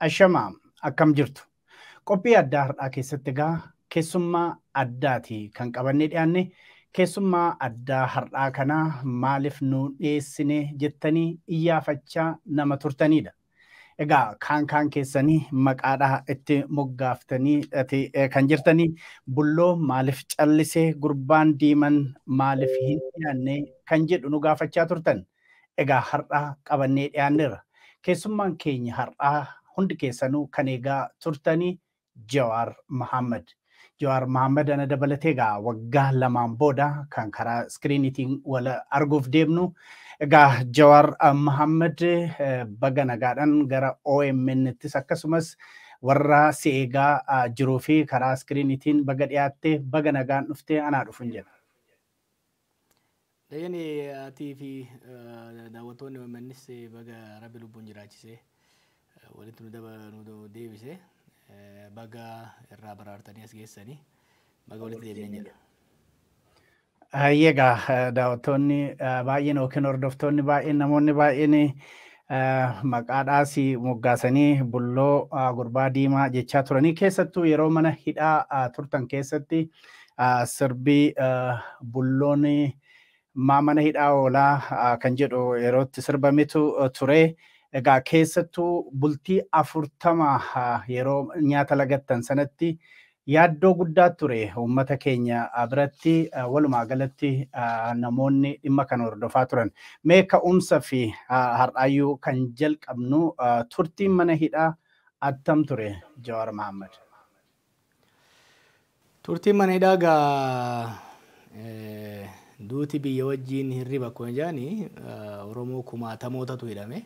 Ashama akkam jirtu? Qophii addaa har'aa keessatti egaa keessummaa addaati kan qabannee dhiyaanne. Keessummaa addaa har'aa kana maaliif nu dhiyeessine jettanii iyyaafachaa nama turtanidha. Egaa kaan kaan keessanii maqaadhaa itti moggaaftanii ati eh, kan jirtanii bulloo maaliif callisee gurbaan diiman maaliif hin dhiyaanne kan jedhu nu gaafachaa turtan. Egaa har'a qabannee dhiyaanneerra. Keessummaan keenya har'aa hundi keessanuu kan eegaa turtanii Jawaar Mahaammad. Jawaar Mahaammad ana dabalatee egaa waggaa lamaan booda kan karaa iskiriiniitiin wal arguuf deemnu. Egaa Jawaar Mahaammad baga nagaadhaan gara OMN'ttis akkasumas warra si eegaa jiruu fi karaa iskiriiniitiin baga dhiyaatte baga nagaan dhufte anaa dhufun jedha. Dayane atii fi daawwattoonni OMNs baga rabbi lubbuun jiraachisee walitti nu daba nu deebise baga irraa baraartanii as geessanii baga walitti deebineen jedha. Hayyee egaa eh, daawwattoonni eh, baay'een yookiin hordoftoonni baay'een namoonni baay'een eh, maqaadhaas moggaasanii bulloo ah, gurbaa diimaa jechaa turanii keessattuu yeroo mana hidhaa ah, turtan keessatti ah, sirbi ah, bulloon maa mana hidhaa oolaa ah, kan jedhu yeroo itti sirbametu eh, ture. Egaa keessattuu bultii afurtama ah, yeroo nyaata lagattan sanatti yaaddoo guddaa ture uummata keenya ah, biratti ah, walumaa galatti ah, namoonni dhimma kana hordofaa turan. Mee ka'umsa fi ah, har'aayyuu kan jalqabnu ah, turtiin mana hidhaa attam ture Jawaar Mahaammad? Turtiin mana hidhaa gaa duuti biyya wajjiin hirriba akkuma jedhani Oromoo kumaatamootatu hidhame.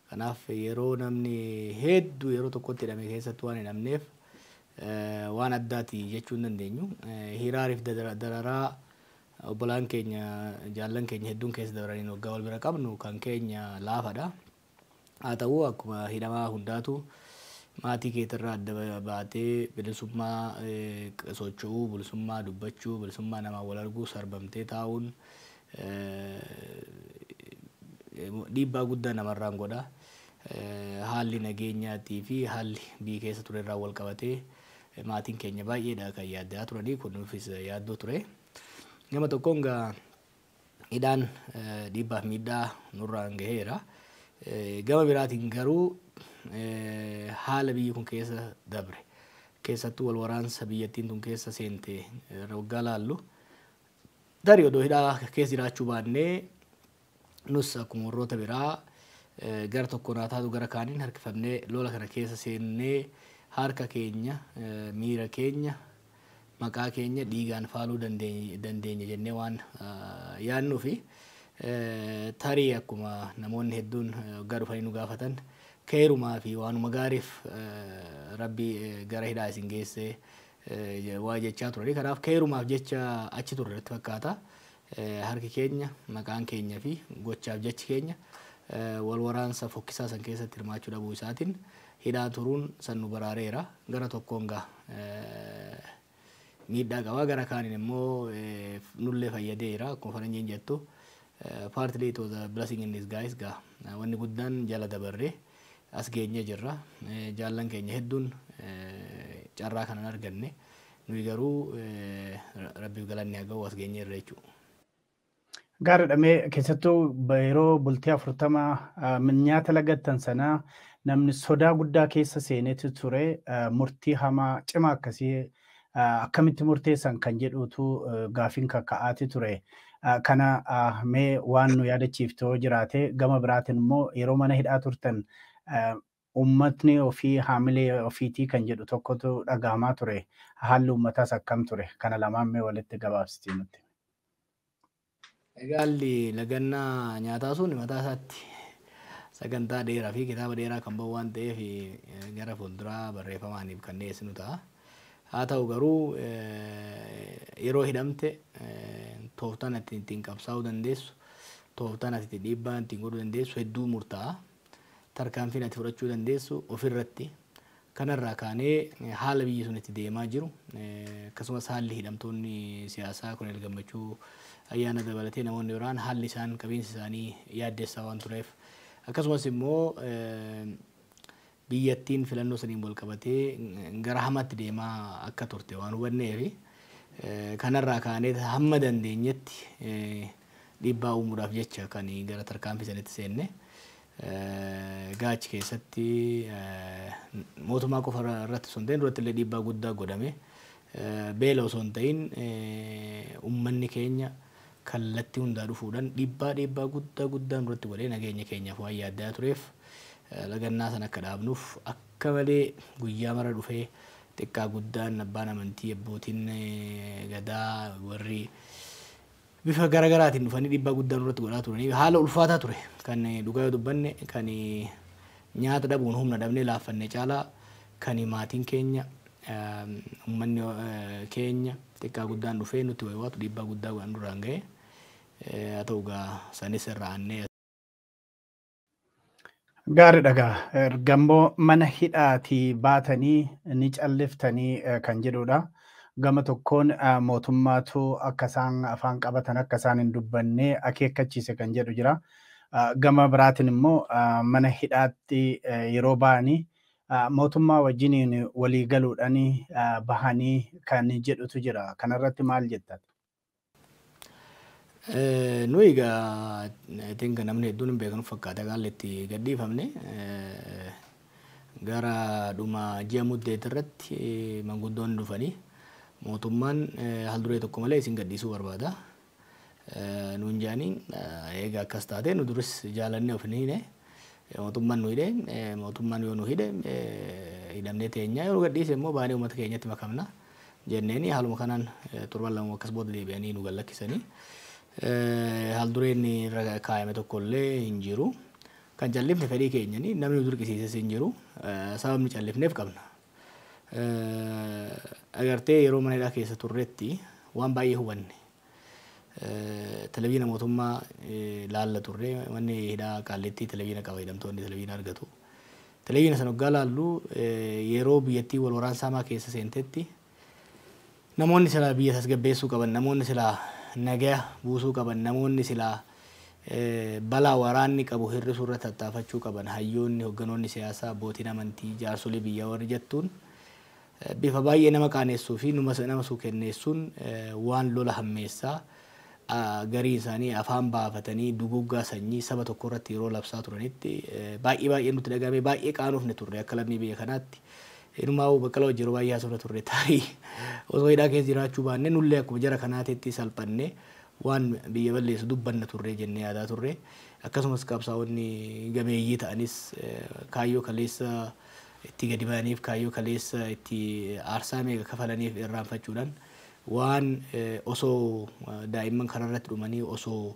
Kanaaf yeroo namni hedduu yeroo tokkotti hidhame keessatti waan hidhamneef waan addaati jechuu hin dandeenyu. Hiraariif dararaa obbolaan keenya jaallan keenya hedduun keessa dabraniin waggaa wal bira qabnu kan keenya laafadha. Haa ta'uu akkuma hidhamaa hundaatu maatii keetirraa adda baatee bilisummaa socho'uu, bilisummaa dubbachuu, bilisummaa namaan wal arguu sarbamtee taa'uun dhiibbaa guddaa namarraan godha. Haalli nageenyaatii fi haalli biyyi keessa turerraan wal qabatee maatiin keenya baay'eedha kan yaadda'aa turanii kun nuufis yaaddoo ture. Gama tokkoon egaa hidhaan dhiibbaaf miidhaa nurraan gaheera. Gama biraatiin garuu haala biyyi kun keessa dabre keessattuu wal waraansa biyyattiin tun keessa seente irra waggaa laallu tarii odoo hidhaa keessa jiraachuu baannee nus akkuma warroota biraa gara tokko naa taatu gara kaaniin harkifannee lola kana keessa seennee harka keenya miira keenya maqaa keenya dhiigaan faaluu dandeenya jennee waan yaadnuufi tarii akkuma namoonni hedduun waggaa dhufanii nu gaafatan keeyrumaa fi waanuma gaariif rabbi gara hidhaa isin geessee waa jechaa turanii kanaaf keeyrumaaf jecha achi turre natti fakkaata. Harki keenya, maqaan keenya fi gochaaf jechi keenya wal waraansa fokkisaa san keessatti hirmaachuu dhabuu isaatin hidhaa turuun san nu baraareera. Gara tokkoon ga miidhaa qaba gara kaanin immoo nullee fayyadeera akkuma faranjiin jettu partly it was a blessing in disguise ga wanni guddaan jala dabarre as geenye jirra. Jaallan keenya hedduun carraa kanan arganne Nuyi garuu Rabbiif galanni haa ga'u as geenyeerra jechuudha. Gaariidha mee keessattuu yeroo bultii afurtama nyaata lagattan sana namni sodaa guddaa keessa seenetu ture murtii hamaa cimaa akkasii akkamitti murteessan kan jedhuutu gaafiin kakka'aati ture. Kana mee waan nu yaadachiiftoo jiraate gama biraatiin immoo yeroo mana hidhaa turtan Uummatni ofii haamilee ofiitii kan jedhu tokkotu dhagahamaa ture. Haalli uummataas akkam ture? Kana lamaan mee walitti gabaabsitii nutti himi. Egaa haalli lagannaa nyaataa sun mataa isaatti sagantaa dheeraa fi kitaaba dheeraa kan ba'u waan ta'eef gara fuulduraa barreeffamaaniif kan dhiyeessinu ta'a. Haa ta'u garuu yeroo hidhamte tooftaan ati ittiin qabsaa'uu dandeessu, tooftaan ati itti dhiibbaa ittiin godhuu dandeessu hedduu murtaa'a. Tarkaanfiin ati fudhachuu dandeessu ofirratti. Kanarraa kaanee haala biyyi sun itti deemaa jiru akkasumas haalli hidhamtoonni siyaasaa Koloneel Gammachuu Ayyaana dabalatee namoonni biraan haalli isaan qabiinsi isaanii yaaddessaa waan tureef akkasumas immoo biyyattiin filannoo saniin wal qabatee gara hamaatti deemaa akka turte waan hubanneefi kanarraa kaanee hamma dandeenyetti dhiibbaa uumuudhaaf jecha kan gara tarkaanfii sanitti seenne. Egaa achi keessatti mootummaa qofa irratti osoo hin ta'in duratti illee dhiibbaa guddaa godhame. Beela osoo hin ta'in ummanni keenya kallattii hundaa dhufuudhaan dhiibbaa dhiibbaa guddaa guddaa nurratti godhee nageenya keenyaaf waan yaaddaa tureef lagannaa sana akka dhaabnuuf akka malee guyyaa mara dhufee xiqqaa guddaan abbaan amantii abbootiin gadaa warri bifa gara garaatiin dhufanii dhiibbaa guddaa nurratti godhaa turanii haala ulfaataa ture kan dhugaa yoo dubbanne kan nyaata dhabuun humna dhabnee laaffanne caalaa kan maatiin keenya ummanni keenya xiqqaa guddaan dhufee nutti waywaatu dhiibbaa guddaa nurraan ga'e haa ta'u gaa sanis irra aannee Gaari dhagaa ergammoo mana hidhaatii baatanii ni calliftanii eh, kan jedhudha. Gama tokkoon eh, mootummaatu akka isaan afaan qabatan akka isaan hin dubbanne akeekkachiise kan jedhu jira. Ah, Gama biraatiin immoo ah, mana hidhaatti eh, yeroo ba'anii ah, mootummaa wajjiniin walii galuudhaan ah, bahanii kan jedhutu jira. Kanarratti maal jettan? Nuyi egaa I think namni hedduun hin beeknu fakkaata haalli itti gadhiifamne. Gara dhuma ji'a muddeetti irratti manguddoonni dhufanii mootummaan haal duree tokko malee isin gadhiisuu barbaada nuun jedhanii eega akkas taate nu duris jaalannee of hin hiine mootummaan nu hidhe mootummaan yoo nu hidhe hidhamnee teenyaa yoo nu gadhiise immoo baanee uummata keenyatti makamna. jenneen. Haaluma kanaan torban lama akkas booda deebi'anii nu gallakkisanii haaldureen irra kaayame tokko illee hin jiru. Kan callifne fedhii keenyani namni nu dirqisiises hin jiru. Sababni callifneef qabna. Agartee yeroo mana hidhaa keessa turretti waan baay'ee hubanne. Televiina mootummaa laalla turre. Manni hidhaa Qaallittii televiina qaba. Hidhamtoonni televiina argatu. Televiina sana oggaa laallu yeroo biyyattii wal waraansa hamaa keessa seentetti namoonni silaa biyya tasgabbeessuu qaban, namoonni silaa nagaya buusuu qaban, namoonni silaa balaa waraanni qabu hir'isuu irratti tattaafachuu qaban, hayyoonni, hogganoonni siyaasaa, abbootiin amantii, jaarsolii biyyaa warri jettuun Bifa baay'ee nama qaaneessuu fi nama suukenneessuun waan lola hammeessaa gariin isaanii afaan baafatanii duguuggaa sanyii saba tokkoo irratti yeroo labsaa turanitti baay'ee baay'ee nutti dhaga'amee baay'ee qaanofne turre akka lammii biyya kanaatti. Inumaa'uu Baqqalaa wajjin yeroo baay'ee haasofna turre taarii osoo hidhaa keessa jiraachuu baannee nullee akkuma jara kanaatitti salphannee waan biyya balleessu dubbanna turre jennee yaadaa turre. Akkasumas qabsaa'onni gameeyyii ta'anis kaayyoo kaleessa itti gadi ba'aniif kaayyoo kaleessa itti aarsaa meeqa kafalaniif irraanfachuudhaan waan osoo daa'imman karaa irratti dhumanii osoo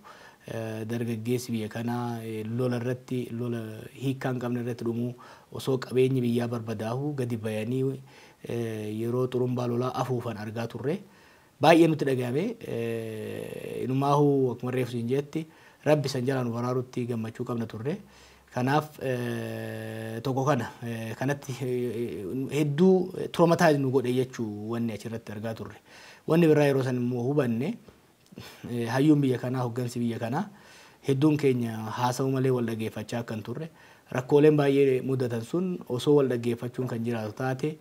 dargaggeessi biyya kanaa lola irratti lola hiikkaa hin qabne irratti dhumuu osoo qabeenyi biyyaa barbadaa'uu gadi bayanii yeroo xurumbaa lolaa afuufan argaa turre. Baay'ee nutti dhagayame. Inumaahu akkuma reefu siin jeetti Rabbi san jalaa nu baraarutti gammachuu qabna turre. Kanaaf tokko kana kanatti hedduu traumatize nu godhe jechuu wanni achirratti argaa turre. Wanni biraa yeroo san immoo hubanne hayyuun biyya kanaa hoggansi biyya kanaa hedduun keenya haasa'u malee wal dhageeffachaa akka hin turre. Rakkooleen baay'ee mudatan sun osoo wal dhaggeeffachuun kan jiraatu taate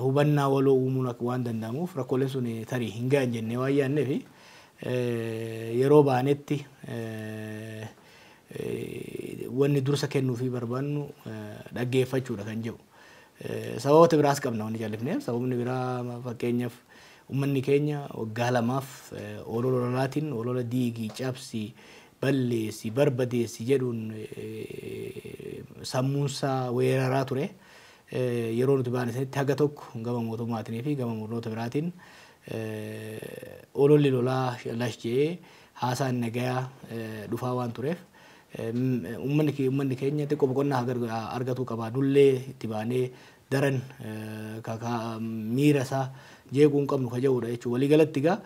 hubannaa waloo uumuun akka waan danda'amuuf rakkooleen sun tarii hin ga'an jennee waan yaadneef yeroo baanetti wanni dursa kennuufii barbaannu dhaggeeffachuudha kan jedhu. Sababoota biraas qabna wanni callifneef sababni biraa fakkeenyaaf ummanni keenya waggaa lamaaf olola ololaatiin olola diigii cabsi balleessi barbadeessi jedhuun sammuunsaa weeraraa ture. yeroo nuti baane sanitti haga tokko gama mootummaatinii fi gama murnoota biraatiin ololli lolaa lash je'ee haasaan nagayaa dhufaa waan tureef ummanni kee- ummanni keenya xiqqoo boqonnaa haa gar- haa argatuu qaba nullee itti baanee daran ka- ka- miira isaa jeequu hin qabnu ka ja'uudha jechuudha waliigalatti egaa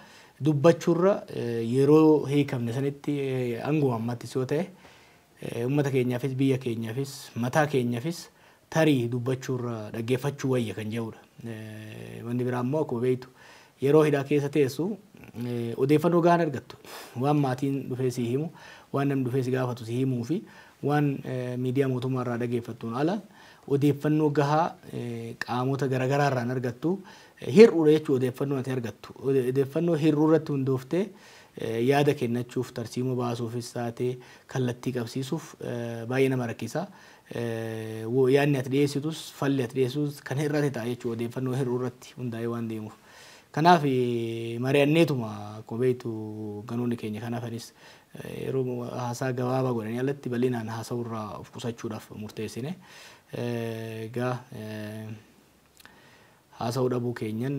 dubbachuurra yeroo hiikamne sanitti hanguma ammattis yoo ta'e Ummata keenyaafis biyya keenyafis mataa keenyafis tarii dubbachuurra dhaggeeffachuu wayya kan jedhuudha. Wanni biraa immoo akkuma beektu yeroo hidhaa keessa teessu odeeffannoo gahaan argattu. Waan maatiin dhufee sii himu, waan namni dhufee si gaafatu si himuu fi waan miidiyaa mootummaa irraa dhageeffattuun ala odeeffannoo gahaa qaamota garagaraa irraan argattu hir'uudha jechuu odeeffannoon ati argattu. Odeeffannoo hir'uu irratti hundooftee yaada kennachuuf tarsiimoo baasuufis taate kallattii qabsiisuuf baay'ee nama rakkisa. Yaadni ati dhiyeessitus falli ati dhiyeessitus kan hir'ate ta'a jechuudha odeeffannoo hir'uu irratti hundaa'ee waan deemuuf. Kanaaf mari'anneetuma akkuma beektu ganoonni keenya kan hafanis yeroo haasaa gabaabaa godhanii alatti bal'inaan haasa'uu irraa of qusachuudhaaf murteessine. Egaa haasa'uu dhabuu keenyan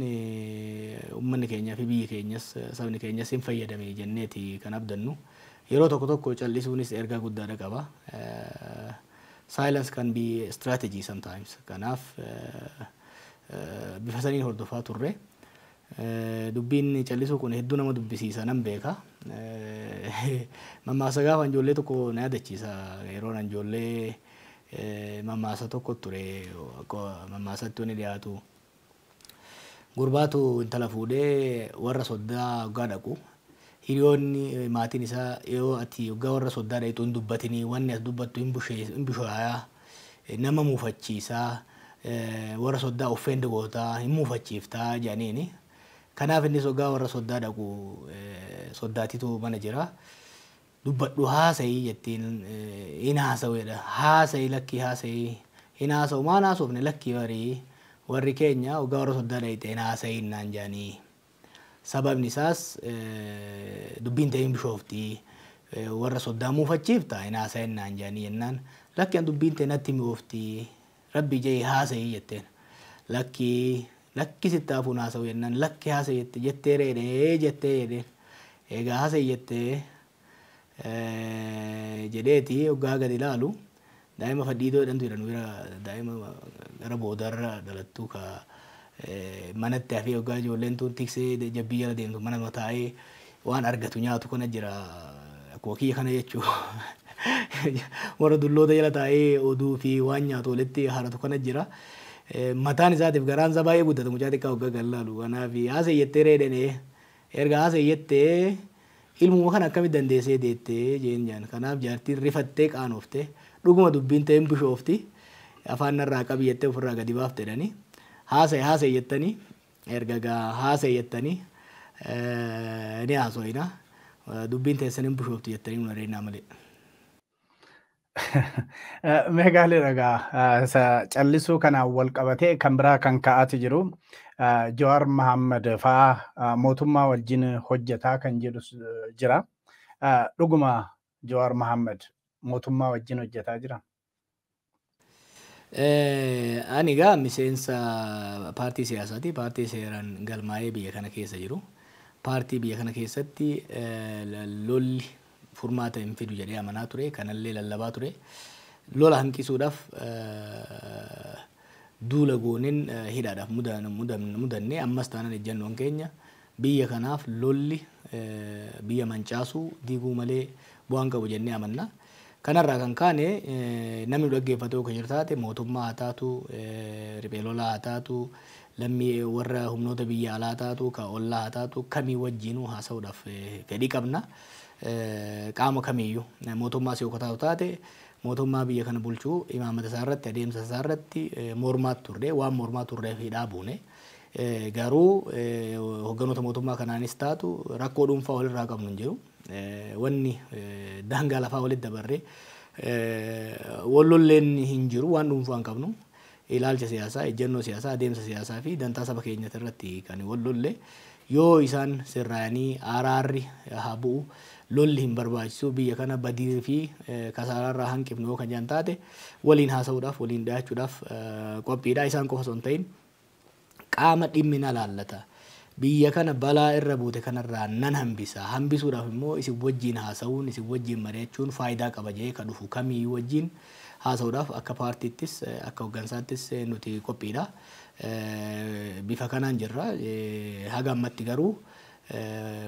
ummanni keenyaa fi biyyi keenyas sabni keenyas hin fayyadame jenneeti kan abdannu. Yeroo tokko tokko cal'isuunis ergaa guddaadha qaba. Silence can be a strategy sometimes. Kanaaf bifa saniin hordofaa turre. Dubbiin callisuu kun hedduu nama dubbisiisa nan beeka. Mammaaksa gaafa ani ijoollee tokko na yaadachiisa. Yeroon ani ijoollee mammaaksa tokko ture mammaaksaatti wanni dhiyaatu gurbaatu intala fuudhee warra soddaa hoggaa dhaqu hiriyoonni maatiin isaa yoo ati hoggaa warra soddaa dhaqxu hin dubbatinii wanni as dubbattu hin bushaaya nama muufachiisa, worra soddaa offend goota, hin muufachiifta jedhaniini. Kanaaf innis hoggaa worra soddaa dhaqu soddaatitu mana jira. Dubbadhu haasayi jettiin hin haasawu jedha. Haasayi lakkii haasayi hin haasawu maan haasofne lakkii barii warri keenya hoggaa worra soddaa dhayxe hin haasayin naan jedhanii. Sababni isaas dubbiin tee hin bishoofti, warra soddaa muufachiifta, hin haasayin naan jedhanii jennaan, lakki an dubbiin tee natti mi'oofti, Rabbii je'ii haasayi jetteen. Lakki, lakki sitti hafuu hin haasawu jennaan, lakki haasayi jette, jettee reedhee jettee jedheen. Eegaa haasayi jettee jedheeti hoggaa gadi ilaalu daa'ima fadhiidoo jedhantu jira nu bira daa'ima gara boodarra dhalattu ka manatti hafee hoggaa ijoolleen tun tiksee jabbii jala deemtu mana mataa'ee waan argatu nyaatu kana jira akkuma kiyya kana jechuu warra dulloota jala taa'ee oduu fi waan nyaatu walitti haratu kana jira. Mataan isaatiif garaan isaa baay'ee guddata mucaa xiqqaa hoggaa gadi ilaalu kanaaf haasa'e jettee reedhenee erga haasa'e jettee Ilmuma kana akkamitti dandeessee deette? jeen jaan. Kanaaf jaartiin rifattee qaanofte. Dhuguma dubbiin ta'e hin bushoofti. Afaan narraa qabi jettee ofirraa gadi baafte jedhanii. Haasa'i haasa'i jettanii erga egaa haasa'i jettanii ni haaso'ina. Dubbiin teessan hin bushoofti jettanii nu areennaa malee. Mee gaaliidha egaa isa callisuu kanaan wal qabatee kan biraa kan ka'aati jiru Jawaar Mahammad fa'aa mootummaa wajjin hojjetaa kan jedhu jira. Dhuguma Jawaar Mahammad mootummaa wajjin hojjetaa jira. Ani egaa miseensa paartii siyaasaati. Paartii seeraan galmaa'ee biyya kana keessa jiru. Paartii biyya kana keessatti lolli furmaata hin fidu jedhee amanaa ture. Kanallee lallabaa ture. Lola hanqisuudhaaf duula goonen hidhaadhaaf mudanne. Ammas taanan ejjannoon keenya biyya kanaaf lolli biyya mancaasuu, diiguu malee bu'aa hin qabu jennee amanna. Kanarraa kan kaane namni nu dhaggeeffatu yoo jiru taate mootummaa haa taatu, riphee lolaa haa taatu, lammii warra humnoota biyya alaa haa taatu, ka ollaa haa taatu kamii wajjiinuu haasa'uudhaaf fedhii qabna. qaama kamiiyyuu mootummaas yoo kataatu taate mootummaa biyya kana bulchu imaamata isaa irratti adeemsa isaa irratti mormaat turre waan mormaa turreef hidhaa buune. Garuu hogganoota mootummaa kanaanis taatu rakkoo dhuunfaa walirraa qabnu hin jiru. Wanni daangaa lafaa walitti dabarree wallolleen hin jiru waan dhuunfaa hin qabnu. ilaalcha siyaasaa, ejjennoo siyaasaa, adeemsa siyaasaa fi dantaa saba keenyati irratti kan wal lolle yoo isaan sirraayanii aaraarri haa bu'u, lolli hin barbaachisu, biyya kana badii fi kasaaraa irraa hanqifnu yoo kan jedhan taate waliin haasa'uudhaaf, waliin dhiyaachuudhaaf qophii dha. Isaan qofa osoo hin ta'iin. qaama dhimmi na laallata. Biyya kana balaa irra buute kanarraa nan hambisa. Hambisuudhaaf immoo isin wajjiin haasa'uun, isin wajjiin mari'achuun faayidaa qaba jedhee ka dhufu kamiiyyuu wajjiin haasa'uudhaaf akka paartiittis, akka hoggansaattis nuti qophiidha. Bifa kanaan jirra. Haga ammatti garuu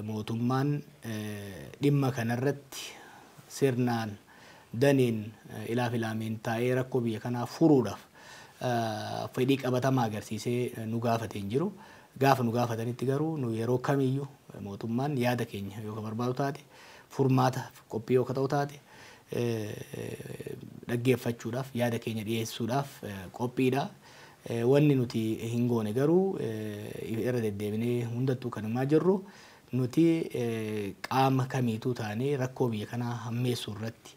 mootummaan dhimma kanarratti sirnaan. Daniin ilaaf ilaameen taa'ee rakkoo biyya kanaa furuudhaaf fedhii qabatamaa agarsiisee nu gaafate hin jiru. Gaafa nu gaafatanitti garuu nu yeroo kamiyyuu mootummaan yaada keenya yoo ka barbaadu taate furmaataaf qophii yoo ka ta'u taate dhaggeeffachuudhaaf yaada keenya dhiyeessuudhaaf qophiidha. Wanni nuti hin goone garuu irra deddeebinee hundattuu kan himaa jirru Nuti qaama kamiituu taanee rakkoo biyya kanaa hammeessuu irratti,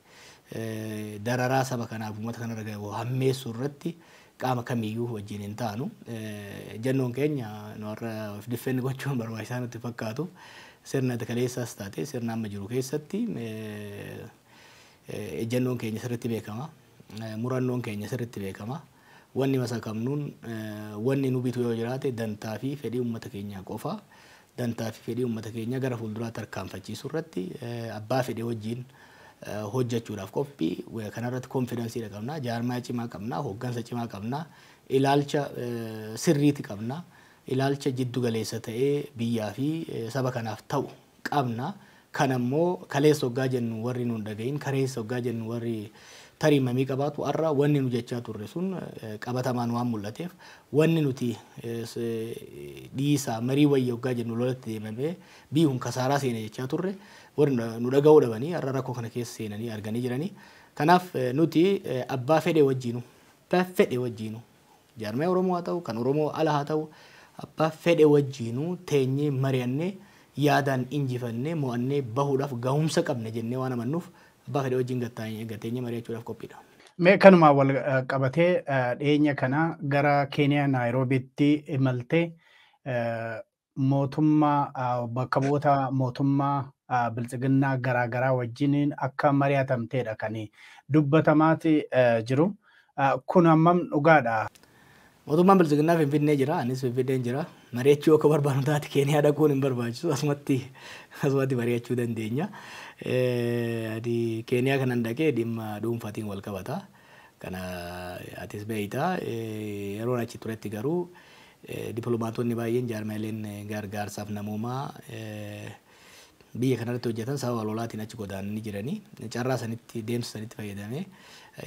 dararaa saba kanaaf uummata kanarra gahu hammeessuu irratti qaama kamiiyyuu wajjin hin taanu. Ejjennoon keenya nu har'a of defend gochuun barbaachisaa nutti hin fakkaatu. Sirna kaleessaas taate sirna amma jiru keessatti ejjennoon keenya sirriitti beekama. Murannoon keenya sirriitti beekama. Wanni masakamnuun wanni nu bitu yoo jiraate dantaa fi fedhii ummata keenyaa qofa. Dantaa fi fedhii ummata keenyaa gara fuulduraa tarkaanfachiisuu irratti abbaa fedhe wajjiin hojjachuudhaaf qophi. Kana irratti confidence dha qabna. Jaarmaya cimaa qabna. Hoggansa cimaa qabna. Ilaalcha sirriiti qabna. Ilaalcha jiddu galeessa ta'ee biyyaa fi saba kanaaf ta'u qabna. Kana immoo kaleessa oggaa jennu warri nu hin dhagahin, kareessa oggaa jennu warri tarii mamii qabaatu har'a wanni nu jechaa turre sun qabatamaan waan mul'ateef wanni nuti dhiisaa marii wayya oggaa jennu lolatti deemamee biyyi kun kasaaraa seene jechaa turre warri nu dhaga'uu dhabanii har'a rakkoo kana keessa seenanii arganii jiranii. Kanaaf nuti abbaa fedhe wajjiinu, abbaa fedhe wajjiinu Jaarmaya Oromoo haa ta'u, kan Oromoo ala haa ta'u, abbaa fedhe wajjiinuu teenyee mari'annee yaadaan injifannee, mo'annee bahuudhaaf gahumsa qabna jennee waan amannuuf abbaa fedhe wajjin gad taa'ee, gad teenyee mari'achuudhaaf qophiidha. Mee kanumaan wal qabatee dhiyeenya kana gara Keeniyaa Naayiroobiitti imaltee mootummaa bakka bu'oota mootummaa biltsiginnaa garaa garaa wajjiniin akka mari'atamteedha kan dubbatamaati jiru. Kun hammam dhugaadha? Mootummaan biltsiginnaa Finfinnee jira, anis Finfinneen jira. Mari'achuu akka barbaannu taate Keeniyaa dhaquun hin barbaachisu. Asumatti asumatti mari'achuu dandeenya. Ani Keeniyaa kanan dhaqee dhimma dhuunfaatiin wal qabata. Kana atis beekta. Yeroon achi turetti garuu Diplomaatoonni baay'een jaarmiyaaleen gaargaarsaaf namoomaa biyya kanarratti hojjatan sababa lolaatiin achi godaananii jirani. Carraa sanitti deemsa sanitti fayyadamee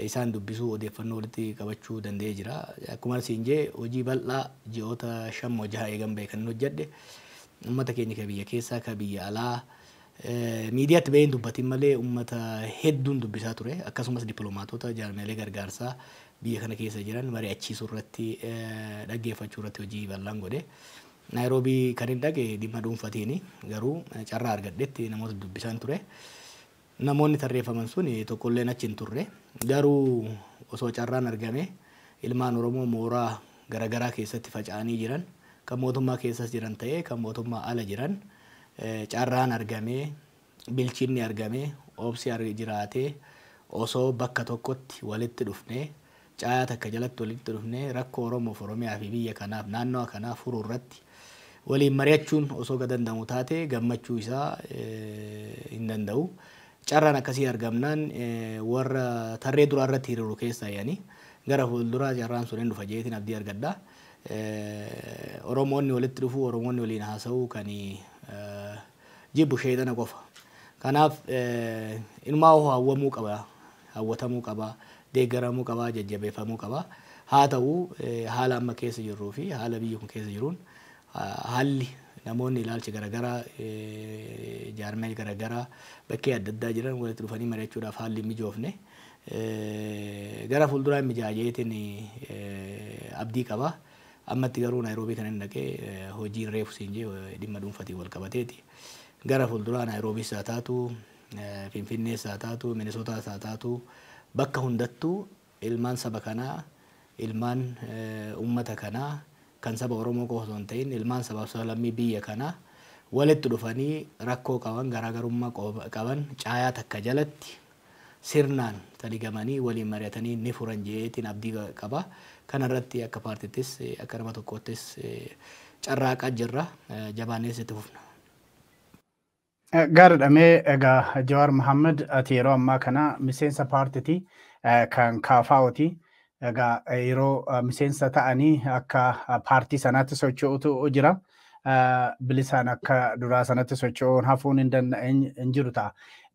isaan dubbisuu odeeffannoo walitti qabachuu danda'ee jira. Akkumaan siin jee hojii bal'aa ji'oota shan moo jaha eegan ba'e kanin hojjadhe ummata keenya ka biyya keessaa ka biyya alaa miidiyaatti ba'een dubbatiin malee ummata hedduun dubbisaa ture. Akkasumas diplomaatoota jaarmiyaalee gargaarsaa biyya kana keessa jiran mari'achiisuu irratti, dhaggeeffachuu irratti hojii bal'aan godhe. Naayiroobii kanin dhaqe dhimma dhuunfatiini. Garuu carraa argadhetti namoota dubbisaan ture. Namoonni tarreeffaman sun tokkolleen achi hin turre. Garuu osoo carraan argamee ilmaan Oromoo mooraa garagaraa keessatti faca'anii jiran, kan mootummaa keessas jiran ta'ee kan mootummaa ala jiran carraan argamee bilchinni argame, obsi ar jiraatee, osoo bakka tokkotti walitti dhufnee, caayaa takka jalatti walitti dhufnee rakkoo Oromoof, Oromiyaa fi biyya kanaaf, naannawa kanaa furuu irratti waliin mari'achuun osoo ka danda'amu taate gammachuu isaa hin danda'u. Carraan akkasii argamnaan warra tarree duraa irratti hiriiru keessaayi ani. Gara fuulduraa carraan sun hin dhufa jedheetiin abdii argadha. Oromoonni walitti dhufuu, Oromoonni waliin haasa'uu kan jibbu sheexana qofa. Kanaaf inumaahuu hawwamuu qaba, hawwatamuu qaba, deeggaramuu qaba, jajjabeeffamuu qaba. Haa ta'u haala amma keessa jirruu fi haala biyyi kun keessa jiruun haalli namoonni ilaalcha garagaraa jaarmiyaalee garagaraa bakkee adda addaa jiran walitti dhufanii mari'achuudhaaf haalli hin mijoofne. Gara fuulduraa hin mijaa'a jedheetiin abdii qaba. Ammatti garuu Naayiroobii kanan dhaqe hojiin reefu siin jee dhimma dhuunfatiin wal qabateeti. Gara fuulduraa Naayiroobiis haa taatu, Finfinnees haa taatu, Minisootaas haa taatu bakka hundattuu ilmaan saba kanaa, ilmaan uummata kanaa kan saba Oromoo qofa osoo hin ta'in ilmaan sabaaf sablammii biyya kanaa walitti dhufanii rakkoo qaban, garaagarummaa qaban caayaa takka jalatti sirnaan taligamanii waliin mari'atanii ni furan jedheetiin abdii qaba. Kana irratti akka paartittis akka nama tokkoottis carraaqaa jirra. Jabaannees itti fufna. Gaariidha mee egaa Jawaar Mohammed ati yeroo ammaa kana miseensa paartiti kan KFOti. Egaa yeroo miseensa ta'anii akka paartii sanaatti socho'utu jira. Bilisaan akka duraa sanatti socho'uun hafuun hin jiru ta'a.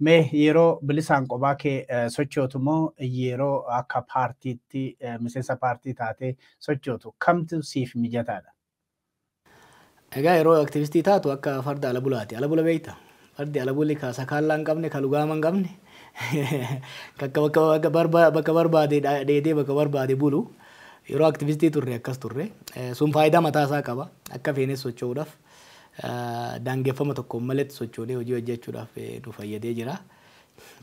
Mee yeroo bilisaan qophaa kee sochootu moo yeroo akka paartiitti miseensa paartii taatee sochootu kamtu siif mijataadha? Egaa yeroo aktivistii taatu akka farda ala bulaati. Ala bula beekta? Fardi ala buli ka sakaallaa hin qabne, ka lugaama hin qabne, ka akka bakka bakka barba- bakka barbaade dha- dheedee bakka barbaade bulu. Yeroo aktivistii turre akkas turre. Eh, Sun faayidaa mataa isaa qaba. Akka feenes socho'uudhaaf eh, daangeffama tokkoon maletti sochoonee hojii hojjechuudhaaf eh, nu fayyadee jira.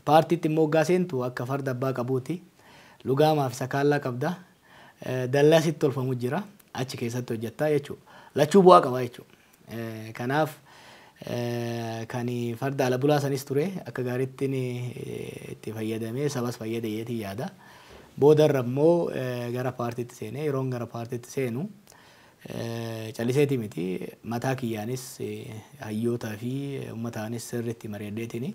Paartiitti immoo hoggaa seentu akka farda abbaa qabuuti. Lugaamaa fi sakaallaa qabda. Dallaa sitti tolfamu jira. Achi keessatti hojjattaa jechuu. Lachuu bu'aa qaba jechuu. Kanaaf kan farda ala bulaa sanis ture akka gaariitti itti fayyadamee sabas fayyade jeetii yaada. Boodarra immoo gara paartiitti seenee yeroon gara paartiitti seenu calliseetii miti mataa kiyyaanis hayyootaa fi ummataanis sirriitti mari'adheetini.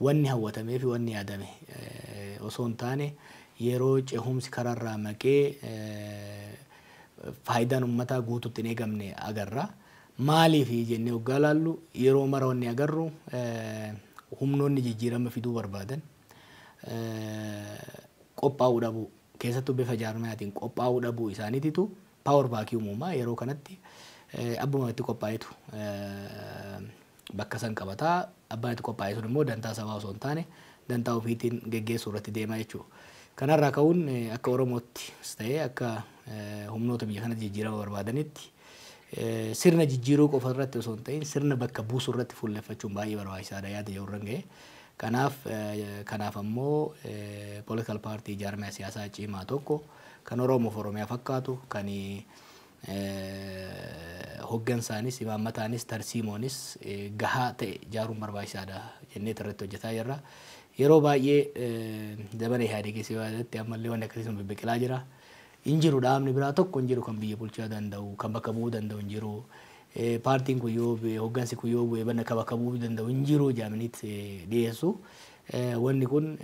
Wanni hawwatameefi wanni yaadame osoo hin taane yeroo cehumsi kararraa maqee faayidaan ummataa guututti hin eegamne agarra. Maaliifi jennee oggaa ilaallu yeroo mara wanni agarru humnoonni jijjiirama fiduu barbaadan qophaa'uu dhabuu keessattuu bifa jaarmayaatiin qophaa'uu dhabuu isaaniititu power vacuum uuma. Yeroo kanatti abbumamatti qophaa'etu bakka san qabata. Abbaan itti qophaa'e sun immoo dantaa sabaa osoo hin taane dantaa ofiitiin geggeessuu irratti deema jechuudha. Kana irraa ka'uun akka Oromoottis ta'ee akka humnoota biyya kanatti jijjiirama barbaadanitti sirna jijjiiruu qofa irratti osoo hin ta'in sirna bakka buusuu irratti fuulleffachuun baay'ee barbaachisaadha yaada jedhu irran ga'e. Kanaaf kanaaf ammoo political party jaarmaya siyaasaa cimaa tokko kan Oromoof Oromiyaa fakkaatu kan hoggansaanis, imaammataanis, tarsiimoonis gahaa ta'e ijaaruun barbaachisaadha jenneet irratti hojjetaa jirra. Yeroo baay'ee zamana Ihaadegiis yoo yaadatti ammallee wanni akkasii sun bibbiqilaa jira. Hin jiru dhaabni biraa tokko hin jiru kan biyya bulchaa danda'u, kan bakka bu'uu danda'u hin jiru. Paartiin kun yoo bu'e, hoggansi kun yoo bu'e bakka bu'uu danda'u hin jiru jedhamaniit dhiyeessu. Wanni kun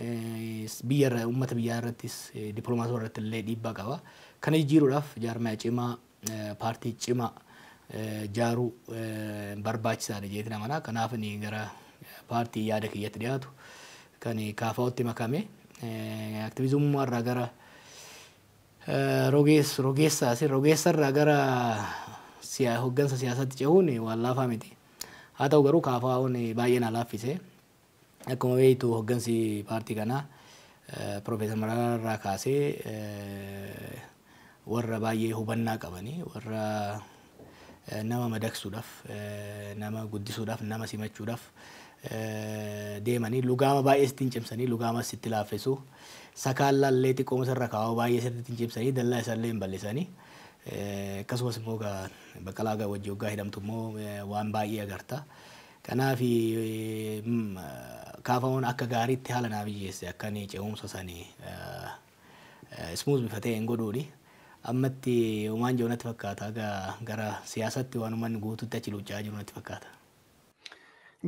biyya irra, ummata biyyaa irrattis, diplomaatota irratti illee dhiibbaa qaba. Kana jijjiiruudhaaf jaarmaya cimaa, paartii cimaa jaaruu barbaachisaa dha jedheetiin amana. Kanaaf ani gara paartii yaada kiyyatti dhiyaatu kan KFOtti makame aktivizumummaa irraa gara rogees, rogeessaa si, rogeessa irraa gara siya, hoggansa siyaasaatti cehuun waan laafaa miti. Haa ta'u garuu KFOn baay'ee na laaffise. Akkuma beektu hoggansi paartii kanaa Pirofeesar Mararaa irraa kaasee warra baay'ee hubannaa qabani, warra nama madaqsuudhaaf, nama guddisuudhaaf, nama simachuudhaaf deemanii lugaama baay'ee sitti hin cimsanii, lugaamas sitti laaffesu. Sakaallaa illee xiqqooma isarra kaa'oo baay'ee sirriitti hin cimsanii, dallaa isaa illee hin bal'isani. Akkasumas immoo Baqqalaa wajji hoggaa hidhamtu immoo waan baay'ee agarta. Kanaaf KFOn akka gaariitti haala naa mijeesse akka ani ce'umsa sani smooth bifa ta'een godhuuni. Ammatti homaan jiru natti fakkaata haga gara siyaasatti waan ummanni guututti achi luucca'aa jiru natti fakkaata.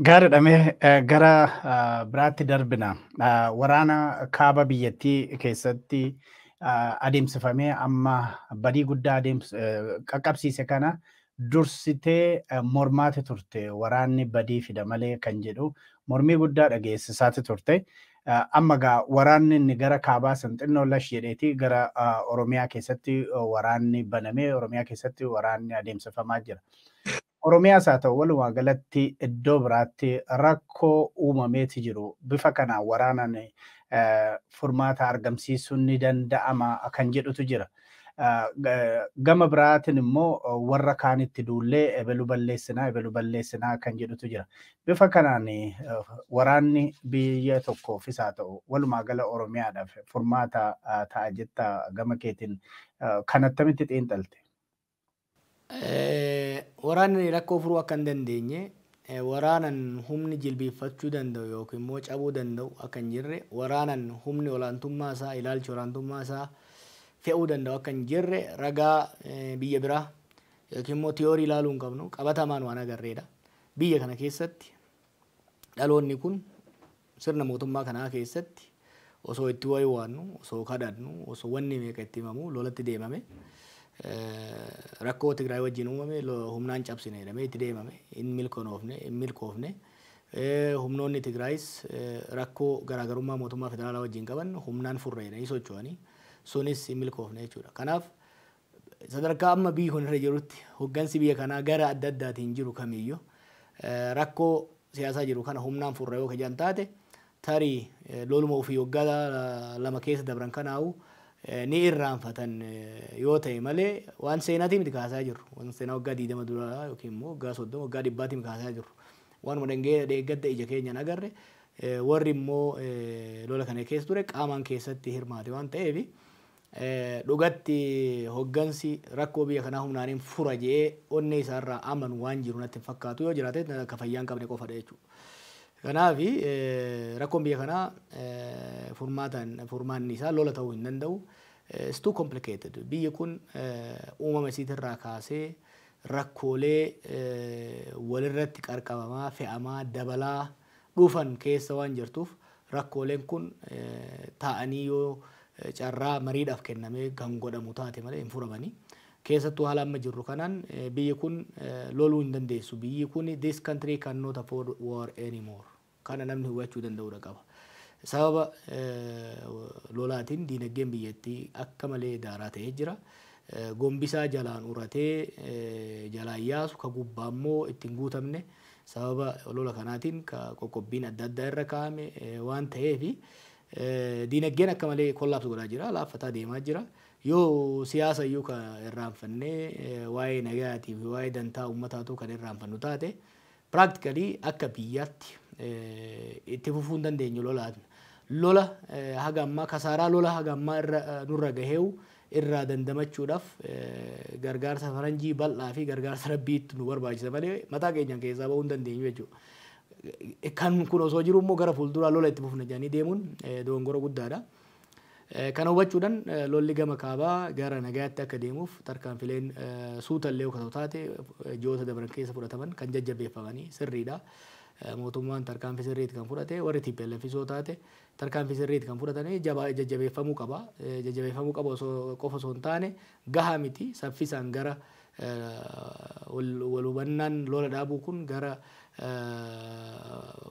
Gaariidha mee gara biraatti darbina. Waraana kaaba biyyattii keessatti adeemsifamee amma badii guddaa qaqqabsiise kana dursitee mormaati turte waraanni badii fida malee kan jedhu mormii guddaa dhageessisaati turte. Amma egaa waraanni inni gara kaabaa san xinnoo lash jedheeti gara Oromiyaa keessatti waraanni banamee Oromiyaa keessatti waraanni adeemsifamaa jira. Oromiyaas haa ta'u walumaa galatti iddoo biraatti rakkoo uumameeti jiru bifa kanaan waraanaan furmaata argamsiisuun ni danda'ama kan jedhutu jira. Gama biraatiin immoo warra kaanitti duullee ebelu balleessinaa ebelu balleessinaa kan jedhutu jira. Bifa kanaan waraanni biyya tokkoof isaa ta'u walumaa gala Oromiyaadhaaf furmaata ta'a jetta gama keetiin kan attamitti xiinxalte? Waraanni rakkoo furuu akka hin dandeenye, waraanan humni jilbiiffachuu danda'u yookiin immoo cabuu danda'u akka hin jirre, waraanan humni olaantummaa isaa, ilaalchi olaantummaa isaa fe'uu danda'u akka hin jirre ragaa biyya biraa yookiin immoo tiyoorii ilaaluu hin qabnu. Qabatamaan waan agarreedha. Biyya kana keessatti Dhaloonni kun sirna mootummaa kanaa keessatti osoo itti waywaannu, osoo kadhannu, osoo wanni meeqa itti himamu lolatti deemame. Rakkoo Tigraay wajjin uumame humnaan cabsina jedhamee itti deemame. Hin milkonoofne, hin milkoofne. Humnoonni Tigraayis rakkoo garaagarummaa mootummaa federaalaa wajjin qaban humnaan furra jedhanii socho'anii sunis hin milkoofne jechuudha. Kanaaf Sadarkaa amma biyyi kun irra jirutti hoggansi biyya kanaa gara adda addaatiin jiru kamiyyu rakkoo siyaasaa jiru kana humnaan furra yoo ka jedhan taate tarii loluma ufii waggaa lama keessa dabran kanaa'uu ni irraanfatan yoo ta'e malee waan seenaatii miti ka haasayaa jirru. Waan seenaa waggaa 20 duraa yookiin immoo waggaa 30 waggaa dhibbaatii miti ka haasayaa jirru. Waanuma dhengee dheengadda ija keenyaan agarre warri immoo lola kana keessa ture qaamaan keessatti hirmaate waan ta'eef Dhugatti hoggansi rakkoo biyya kanaa humnaanin fura jedhee onnee isaa irraa amanu waan jiru natti hin fakkaatu. Yoo jiraate ka fayyaa hin qabne qofadha jechuudha. Kanaaf rakkoon biyya kanaa furmaataan furmaanni isaa lola ta'uu hin danda'u. It's too complicated. Biyyi kun uumama isiitirraa kaasee rakkoolee walirratti qarqabamaa, fe'amaa, dabalaa, dhufan keessa waan jirtuuf rakkooleen kun taa'anii yoo carraa mariidhaaf kennamee kan godhamu taate malee hin furamani. Keessattuu haala amma jirru kanaan biyyi kun loluu hin dandeessu. Biyyi kun this country cannot afford war anymore. Kana namni hubachuu danda'uudha qaba. Sababa lolaatiin diinagdeen biyyattii akka malee daaraa ta'ee jira. Gombisaa jalaan uratee jalaan yaasu ka gubbaa immoo ittiin guutamne. Sababa olola kanaatiin ka qoqqobbiin adda addaa irra kaa'ame waan taheef diinaggeen akka malee collapse godhaa jira, laaffataa deemaa jira. Yoo siyaasa iyyuu ka irraanfannee waa'ee nagayaatii fi waa'ee dantaa ummataa utuu kan irraanfannu taate practically akka biyyaatti itti fufuu hin dandeenyu lolaan. Lola haga ammaa kasaaraa lola haga ammaa irra nurra gaheewu irraa dandamachuudhaaf gargaarsa faranjii bal'aa fi gargaarsa Rabbiitu nu barbaachisa malee mataa keenyaan keessaa bahuu hin dandeenyu jechuudha. Kan kun osoo jiruu immoo gara fuulduraa lola itti fufna jedhanii deemuun dogongora guddaadha. Kana hubachuudhaan lolli gama kaabaa gara nagayaatti akka deemuuf tarkaanfileen suuta illee yoo ta'u taate ji'oota dabran keessa fudhataman kan jajjabeeffamanii sirriidha. Mootummaan tarkaanfii sirriitti kan fudhate warri TPLFis yoo taate Tarkaanfii sirriiti kan fudhatame jabaa jajjabeeffamuu qaba. Jajjabeeffamuu qaba osoo qofa osoo hin taane gahaa miti saffisaan gara wal hubannaan lola dhaabuu kun gara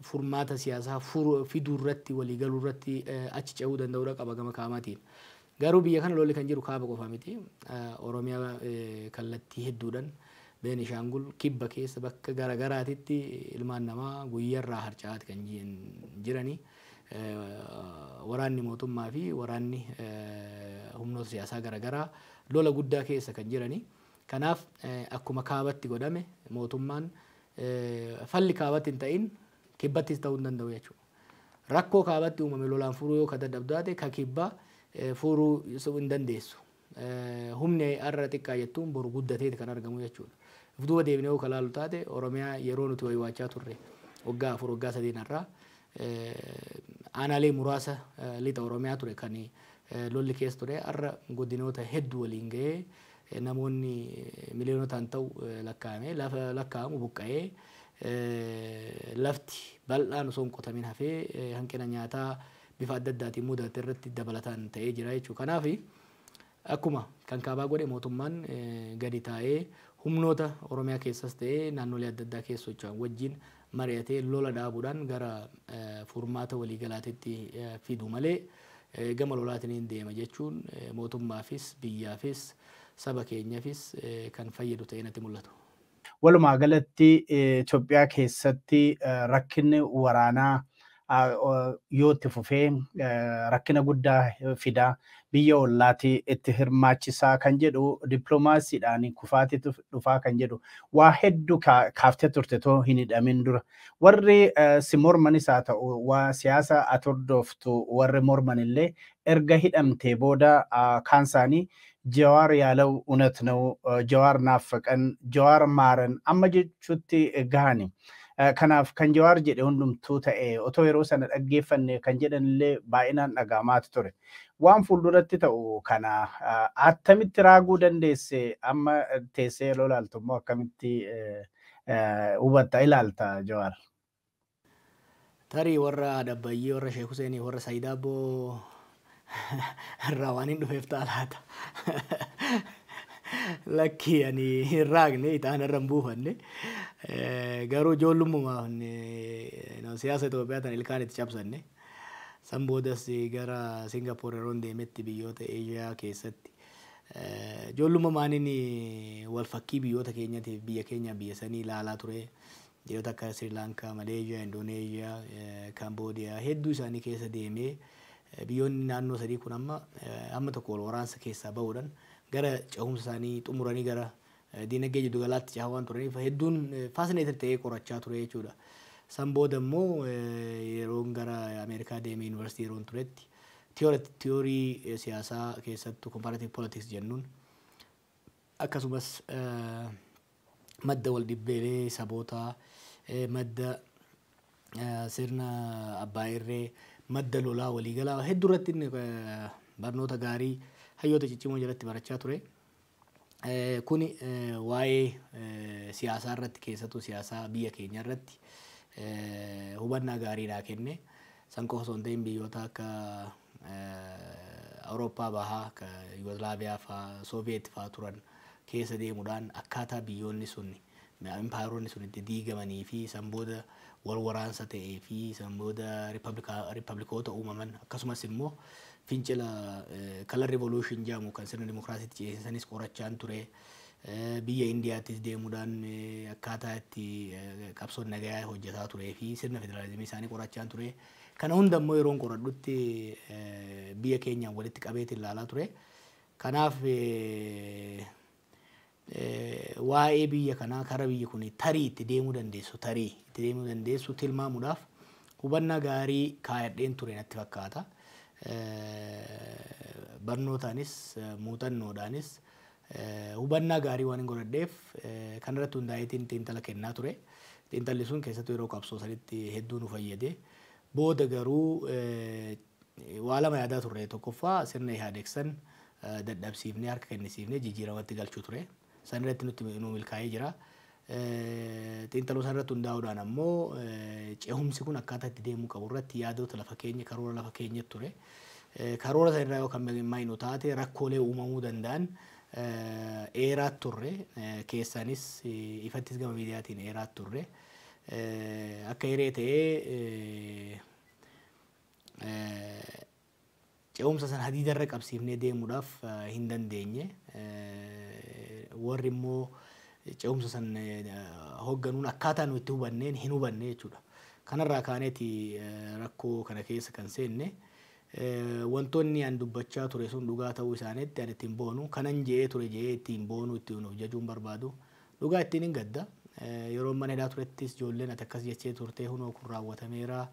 furmaata siyaasaa fiduu irratti walii galuu irratti achi ce'uu danda'uudha qaba gama kaamatiin. Garuu biyya kana lolli kan jiru kaaba qofa miti. Oromiyaa kallattii hedduudhan, Beenishaangul, kibba keessa bakka gara garaatitti ilmaan namaa guyyarraa harca'aati kan jirani. Waraanni mootummaa fi waraanni humnoota siyaasaa gara garaa lola guddaa keessa kan jirani. Kanaaf akkuma kaabatti godhame mootummaan falli kaabatti hin ta'in kibbattis ta'uu hin danda'u jechuudha. Rakkoo kaabatti uumame lolaan furuu yoo ka dadhabdu taate ka kibbaa fuuruu hin dandeessu. Humni har'a xiqqaa jettuun boru guddateeti kan argamu jechuudha. Of duuba deebinee yoo ka laallu taate Oromiyaa yeroo nuti waywaachaa turre waggaa afur waggaa sadeen har'aa aanaalee muraasa lixa Oromiyaa ture kan lolli keessa ture har'a godinoota hedduu waliin gahee Namoonni miliyoonotaan ta'u lakkaa'ame lakkaa'amu buqqa'ee lafti bal'aan osoo hin qotamin hafee hanqina nyaataa bifa adda addaatiin mudate irratti dabalataan ta'ee jira jechuudha. Kanaaf akkuma kan kaabaa godhe mootummaan gadi taa'ee humnoota Oromiyaa keessas ta'ee naannolee adda addaa keessa socho'an wajjin mari'atee lola dhaabuudhaan gara furmaata waliigalaatitti fidu malee gama lolaatiniin deema jechuun mootummaafis, biyyaafis, saba keenyafis kan fayyadu ta'ee natti mul'atu. Walumaa galatti Itoophiyaa keessatti rakkinni waraanaa yoo itti fufee rakkina guddaa fida biyya ollaati itti hirmaachisaa kan jedhu dippiloomaasiidhaan kufaatitu dhufaa kan jedhu waa hedduu kaaftee turte too hin hidhamin dura warri si mormanis haa ta'u waa siyaasa atordoftu warri morman illee erga hidhamtee booda kaan isaanii Jawaar yaalaw unat naw jawaar naaffaqan jawaar maaran amma jechutti gahani kanaaf kan jawaar jedhe hundumtuu ta'e otoo yeroo sana dhaggeeffanne kan jedhan illee baay'inaan dhaga'amaati ture waan fuulduratti ta'u kana attamitti raaguu dandeesse amma teessee yeroo ilaaltu immoo akkamitti hubatta ilaalta jawaar. Tarii warra Haadha Abbayyii, warra Sheek Huseenii fi warra Sayiid Aabboo irraa waanin dhufeef ta'a laata? Lakkii ani hin raagne, ixaana irra hin buufanne. Garuu ijoollummumaan siyaasa Itoophiyaa tana ilkaan itti cabsanne. San boodas gara Singapoor yeroon deemetti biyyoota Eeshiyaa keessatti ijoollummumaan wal fakkii biyyoota keenyatiif biyya keenyaaf biyya sanii ilaalaa ture. Biyyoota akka Sri Lanka, Malaysia, Indonesia, Cambodia hedduu isaanii keessa deemee biyyoonni naannoo sadii kun amma amma tokko wal waraansa keessaa bahuudhan gara cehumsa isaanii xumuranii gara diinagdee jiddu galaatti cehaa waan turaniif hedduun fascinated ta'ee qorachaa ture jechuudha. San booda immoo yeroon gara Ameerikaa deemee yuunivarsiitii yeroon turetti tiyoorii siyaasaa keessattuu comparative politics jennuun akkasumas madda waldhibbeelee sabootaa, madda sirna abbaa irree, madda lolaa waliigalaa hedduu irratti inni barnoota gaarii hayyoota ciccimoo jalatti barachaa ture. Kuni waa'ee siyaasaa irratti keessattuu siyaasaa biyya keenya irratti hubannaa gaarii naa kenne. San qofa osoo hin ta'in biyyoota akka Awurooppaa bahaa akka Yugoslaaviyaa faa, Sooviyeet faa turan keessa deemudhaan akkaataa biyyoonni sun, impaayeronni sun itti diigamanii fi san booda wal waraansa ta'ee fi san booda rippabilikoota uumaman akkasumas immoo fincila color revolution jedhamu kan sirna dimokiraasiitti ceesisanis qorachaan ture. Biyya Indiyaattis deemuudhaan akkaataa itti qabsoon nagayaa hojjetaa turee fi sirna federaalizimii isaanii qorachaan ture. Kana hunda immoo yeroon qoradhutti biyya keenyaan walitti qabeetiin ilaalaa ture. Kanaaf waa'ee biyya kanaa kara biyyi kun tarii itti deemuu dandeessu tarii itti deemuu dandeessu tilmaamuudhaaf hubannaa gaarii kaayadheen ture natti fakkaata. Barnootaanis muuxannoodhaanis hubannaa gaarii waanin godhadheef kanarratti hundaa'eetiin xiinxala kennaa ture. Xiinxalli sun keessattuu yeroo qabsoo sanitti hedduu nu fayyade. Booda garuu waa lama yaadaa turre. Tokkoffaa sirna Ihaadeeg san dadhabsiifnee harka kennisiifnee jijjiiramatti galchuu ture. Sanirratti nutti nu milkaa'ee jira. Xiinxaloosaa irratti hundaa'uudhaan ammoo cehumsi kun akkaataa itti deemuu qabu irratti yaadoota lafa keenya karoora lafa keenyatti ture. Karoora sana irraa yoo kan milmaa'inu taate rakkoolee uumamuu danda'an eeraa turre keessaanis ifattis gama miidiyaatiin eeraa turre. Akka hiree ta'ee Ce'umsa sana hadiida irra qabsiifnee deemuudhaaf hin dandeenye. Warri immoo ce'umsa san hogganuun akkaataa nu itti hubanneen hin hubanne jechuudha. Kanarraa kaaneeti rakkoo kana keessa kan seenne. Wantoonni an dubbachaa ture sun dhugaa ta'uu isaaniitti an ittiin boonu kanan je'ee ture je'ee ittiin boonuu ittiin of jajuun barbaadu. Dhugaa ittiin hin gadda. Yeroon mana hidhaa turettis ijoolleen ati akkas jechee turtee hunoo kun raawwatameera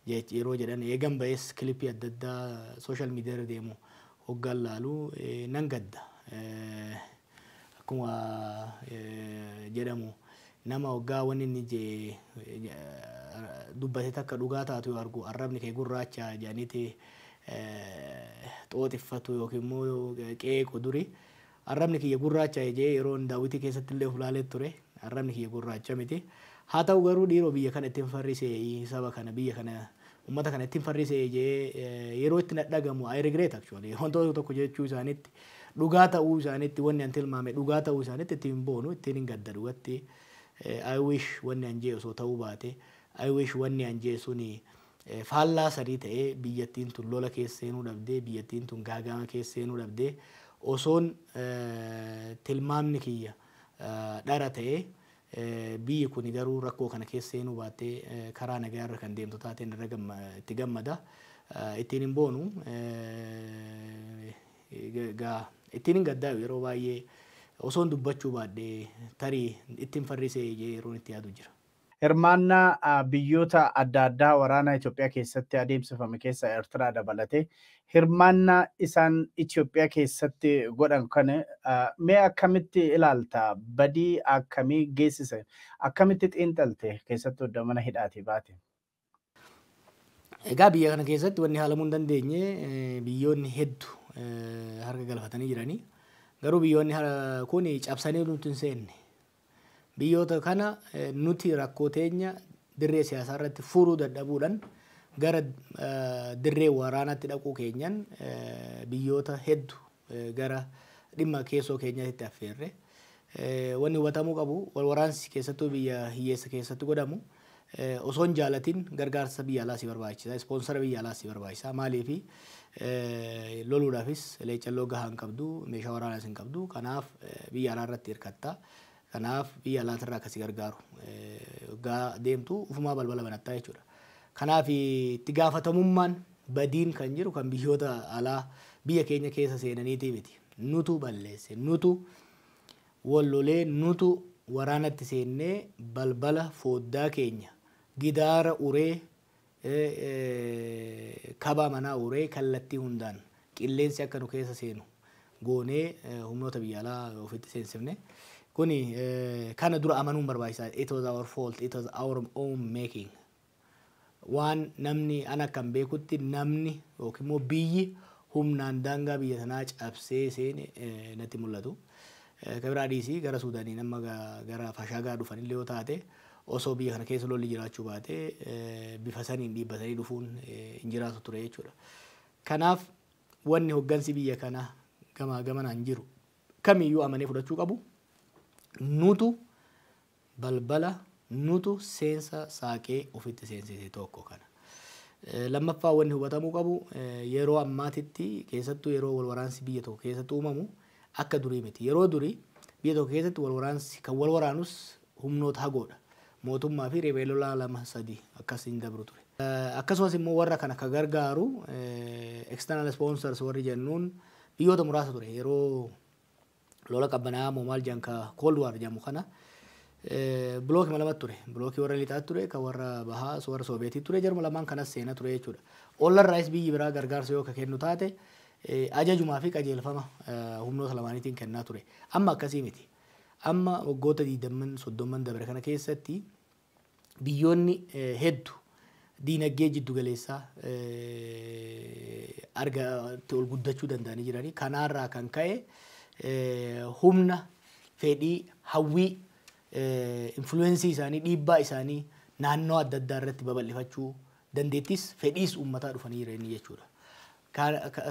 yeroo jedhan eegan ba'es kilipii adda addaa sooshaal miidiyaarra deemu hoggaan laalu nan gadda. Akkuma jedhamu nama hoggaa wanni inni jee dubbate takka dhugaa taatu yoo argu arrabni kee gurraacha jedhaniiti xooxiffatu yookiin immoo qeequ duri. Arrabni kiyya gurraacha'e je'ee yeroon daawwitii keessattillee uf laalee ture, arrabni kiyya gurraacha miti. Haa ta'uu garuu dhiiroo biyya kana ittin farriseeyi, saba kana, biyya kana, ummata kana ittin farriseeyi je'ee yeroo itti na dhagamu I regret actually. Wantoota tokko jechuu isaanitti, dhugaa ta'uu isaanitti, wanni an tilmaame dhugaa ta'uu isaanitti itti hin boonu, ittiinin gadda dhugatti. I wish wanni an je'e osoo ta'uu baate, I wish wanni an je'e suni Faallaa sanii ta'ee biyyattiin tun lola keessa seenuu dhabde, biyyattiin tun gaaga'ama keessa seenuu dhabde. Osoon tilmaamni kiyya dhara ta'ee biyyi kuni garuu rakkoo kana keessa seenuu baattee karaa nagaa irra kan deemtu taateen irra itti gammada. Ittiin hin boonu. Egaa ittiin hin gaddaayu yeroo baay'ee osoon dubbachuu baadhe tarii ittin farrisee jedhee yeroon itti yaadu jira. Hirmaannaa biyyoota adda addaa waraana Itoophiyaa keessatti adeemsifame keessaa Ertiraa dabalatee hirmaannaa isaan Itoophiyaa keessatti godhan kana mee akkamitti ilaalta? Badii akkamii geessise? Akkamitti xiinxalte keessattuu edda mana hidhaatii baate? Egaa biyya kana keessatti wanni haalamuu hin dandeenye biyyoonni heddu harka galfatanii jiranii. Garuu biyyoonni kun cabsanii nutti hin seenne. Biyyoota kana nuti rakkoo teenya dirree siyaasaa irratti furuu dadhabuudhaan gara dirree waraanaatti dhaquu keenyan biyyoota heddu gara dhimma keessoo keenyaatitti affeerre. Wanni hubatamuu qabu wal waraansi keessattuu biyya hiyyeessa keessatti godhamu osoo hin jaalatin gargaarsa biyya alaa si barbaachisa, ispoonsara biyya alaas si barbaachisa. Maaliif loluudhaafis leeccalloo gahaa hin qabdu, meeshaa waraanaas hin qabdu. Kanaaf biyya alaa irratti hirkatta. Kanaaf biyya alaatirraa ka si gargaaru oggaa deemtu ufumaa balbala banattaa jechuudha. Kanaaf itti gaafatamummaan badiin kan jiru kan biyyoota alaa biyya keenya keessa seenaniitii miti. Nutu balleesse, nutu wal lolee, nutu waraanatti seennee balbala fooddaa keenya gidaara uree Ee kabaa manaa uuree kallattii hundaan qilleensi akka nu keessa seenu goonee humnoota biyya alaa ofitti seensifne. Kuni kana dura amanuun barbaachisaadha. It was our fault, it was our own making. Waan namni an akkan beekutti namni yookiin immoo biyyi humnaan daangaa biyya sanaa cabsee seene natti mul'atu. Ka biraa dhiisii gara Suudaaniin amma gara Fashaagaa dhufanillee yoo taate Osoo biyya kana keessa lolli jiraachuu baate bifa saniin dhiibbatanii dhufuun hin jiraatu ture jechuudha. Kanaaf wanni hoggansi biyya kana gamaa gamanaan jiru kamiyyuu amanee fudhachuu qabu nutu balbala nutu seensa saaqee ofitti seensise tokko kana. Lammaffaa wanni hubatamuu qabu yeroo ammaatitti keessattuu yeroo wal waraansi biyya tokko keessatti uumamu akka durii miti. Yeroo durii biyya tokko keessatti wal waraansi kan wal waraanus humnoota hagoodha. Mootummaa fi riphee lolaa lama sadii akkas hin dabru ture. Akkasumas immoo warra kana ka gargaaru external sponsors warri jennuun biyyoota muraasa ture. Yeroo lola qabbanaa'aa moo maal jedhan ka cold war jedhamu kana blookima lamatu ture. Blookii warra lixaatti ture, ka warra bahaa warra sooviyetii ture. Jaruma lamaan kanas seena ture jechuudha. Ollarraayis biyyi biraa gargaarsa yoo ka kennu taate ajajumaa fi qajeelfama humnoota lamaaniitiin kennaa ture. Amma akkasii miti. Amma waggoota digdamman, soddomman dabre kana keessatti biyyoonni heddu diinaggee jiddu galeessaa arga itti ol guddachuu danda'anii jiranii. Kanaarraa kan ka'e humna, fedhii, hawwii, influensii isaanii, dhiibbaa isaanii naannoo adda addaa irratti babal'ifachuu dandeettis fedhiis uummataa dhufanii jiranii jechuudha.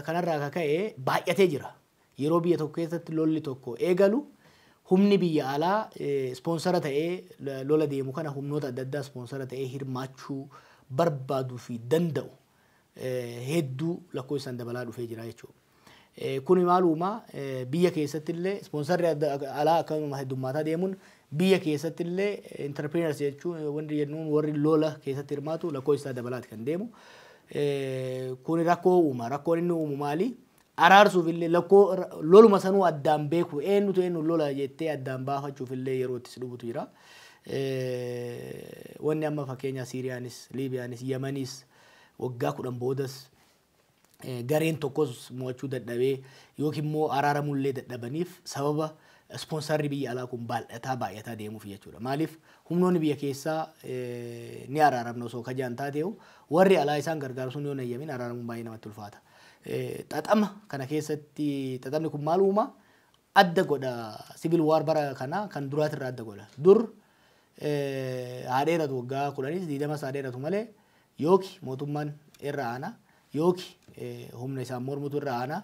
Kanarraa kan ka'e baay'atee jira. Yeroo biyya tokko keessatti lolli tokko eegalu humni biyya alaa ispoonsara ta'ee lola deemu kana humnoota adda addaa ispoonsara ta'ee hirmaachuu barbaaduu fi danda'u hedduu lakkoofsaan dabalaa dhufee jira jechuudha. Kuni maal uumaa biyya keessatti illee ispoonsarri alaa akkasuma heddummaataa deemuun biyya keessatti illee intarpiriinars jechuun wanti jennuun warri lola keessatti hirmaatu lakkoofsi isaa dabalaati kan deemu. Kuni rakkoo uuma. Rakkoon inni uumu maali? araarsuuf illee lakkoo loluma sanuu addaan beeku eenyutu eenyuun lola jettee addaan baafachuuf illee yeroo itti si dhubutu jira. Wanni amma fakkeenyaa Siiriyaanis, Liibiyaanis, Yamaniis waggaa kudhan boodas gareen tokkos mo'achuu dadhabee yookiin immoo araaramuu illee dadhabaniif sababa ispoonsarri biyya alaa kun baaldhataa baay'ataa deemuuf jechuudha. Maaliif humnoonni biyya keessaa ni araaramna osoo kajaan taateehu warri alaa isaan gargaaru sun yoo hin hayyamin araaramuun baay'ee namatti ulfaata. xaxama kana keessatti xaxamni kun maal uuma? Adda godha civil war bara kana kan duraatirraa adda godha. Dur haa dheeratu waggaa kudhanis diidamas haa dheeratu malee yooki mootummaan irra aana yooki humna isaan mormutu irra aana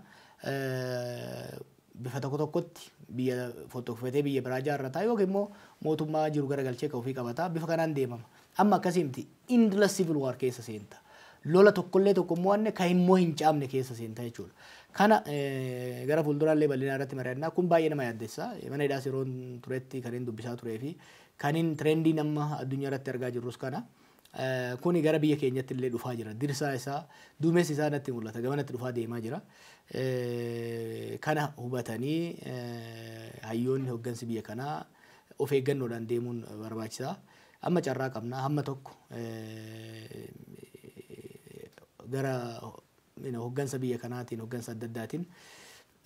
bifa tokko tokkotti biyya fottokfatee biyya biraa ijaarrata yookiin immoo mootummaa jiru garagalchee ka ofii qabata. Bifa kanaan deemama. Amma akkasii miti. Endless civil war keessa seenta. Lola tokkollee tokko hin mo'anne ka hin mo'in caamne keessa seenta jechuudha. Kana gara fuulduraallee bal'inaa irratti mari'anna. Kun baay'ee nama yaaddessa. Mana hidhaas yeroon turetti kanin dubbisaa turee fi kanin trendii amma addunyaa irratti argaa jirrus kana. Kuni gara biyya keenyatti illee dhufaa jira. Dirsaa isaa, duumessi isaa natti mul'ata. Gamanatti dhufaa deemaa jira. Kana hubatanii hayyoonni hoggansi biyya kanaa of eeggannoodhaan deemuun barbaachisa. Amma carraa qabna. Hamma tokko gara hoggansa biyya kanaatiin, hoggansa adda addaatiin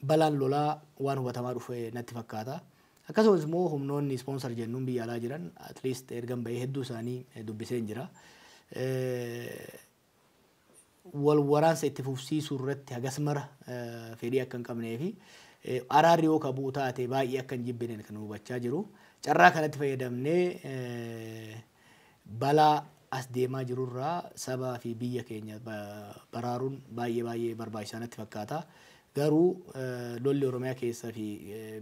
Balaan lolaa waan hubatamaa dhufe natti fakkaata. Akkasumas immoo humnoonni ispoonsar jennuun biyya alaa jiran at least ergan bahee hedduu isaanii dubbiseen jira. Wal waraansa itti fufsiisuu irratti hagas mara fedhii akka hin qabnee fi araarri yoo ka bu'u taate baay'ee akka hin jibbinen kan hubachaa jiru. Carraa kanatti fayyadamnee Balaa as deemaa jiru irraa sabaa fi biyya keenya baraaruun baay'ee baay'ee barbaachisaa natti fakkaata. Garuu lolli Oromiyaa keessa fi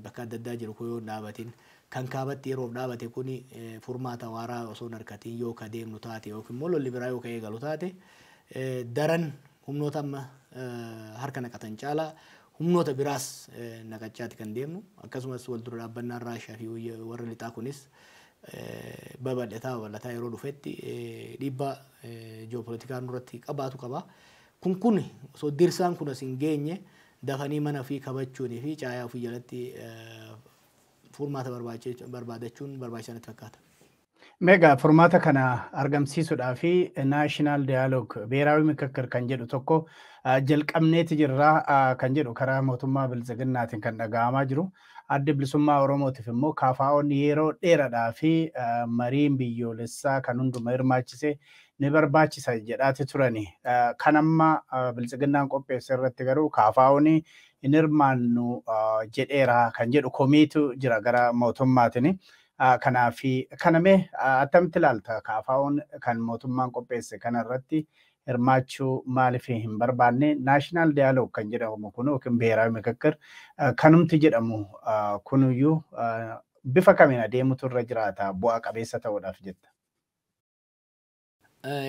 bakka adda addaa jiru kun yoo hin dhaabatin, kan kaabatti yeroof dhaabate kuni furmaata waaraa osoo hin arkatiin yoo ka deemnu taate yookiin immoo lolli biraa yoo ka eegalu taate daran humnoota amma harka naqatan caalaa humnoota biraas naqachaati kan deemnu. Akkasumas wal dura dhaabbannaan Raashiyaa fi warra lixaa kunis babal'ataa babal'ataa yeroo dhufetti dhiibbaa ji'oopolitikaa nurratti qabaatu qaba. Kun kun osoo dirsaan kun as hin geenye dafanii mana ofii kabachuunii fi caayaa ofii jalatti furmaata barbaadachuun barbaachisaa natti fakkaata. Meegaa furmaata kana argamsiisuudhaa fi naashinaal daayaloog beeraawi mikikkir kan jedhu tokko jalqabneeti jirra kan jedhu karaa mootummaa biltsiginnaatiin kan dhaga'amaa jiru. Addi Bilisummaa Oromootiif immoo KFOn yeroo dheeradhaa fi mariin biyyoolessaa kan hunduma hirmaachise ni barbaachisa jedhaati turani. Kan amma Biltsiginnaan qopheesse irratti garuu KFOn hin hirmaannu jedheera kan jedhu komiitu jira gara mootummaatini. Kanaaf kana mee attamitti ilaalta KFOn kan mootummaan qopheesse kana irratti hirmaachuu maaliif hin barbaanne? National Dialogue kan jedhamu kun yookiin Biheeraawi Mikikkir kanumti jedhamu kunuyyuu bifa kamiin adeemutu irra jiraata bu'aa qabeessa ta'uudhaaf jetta?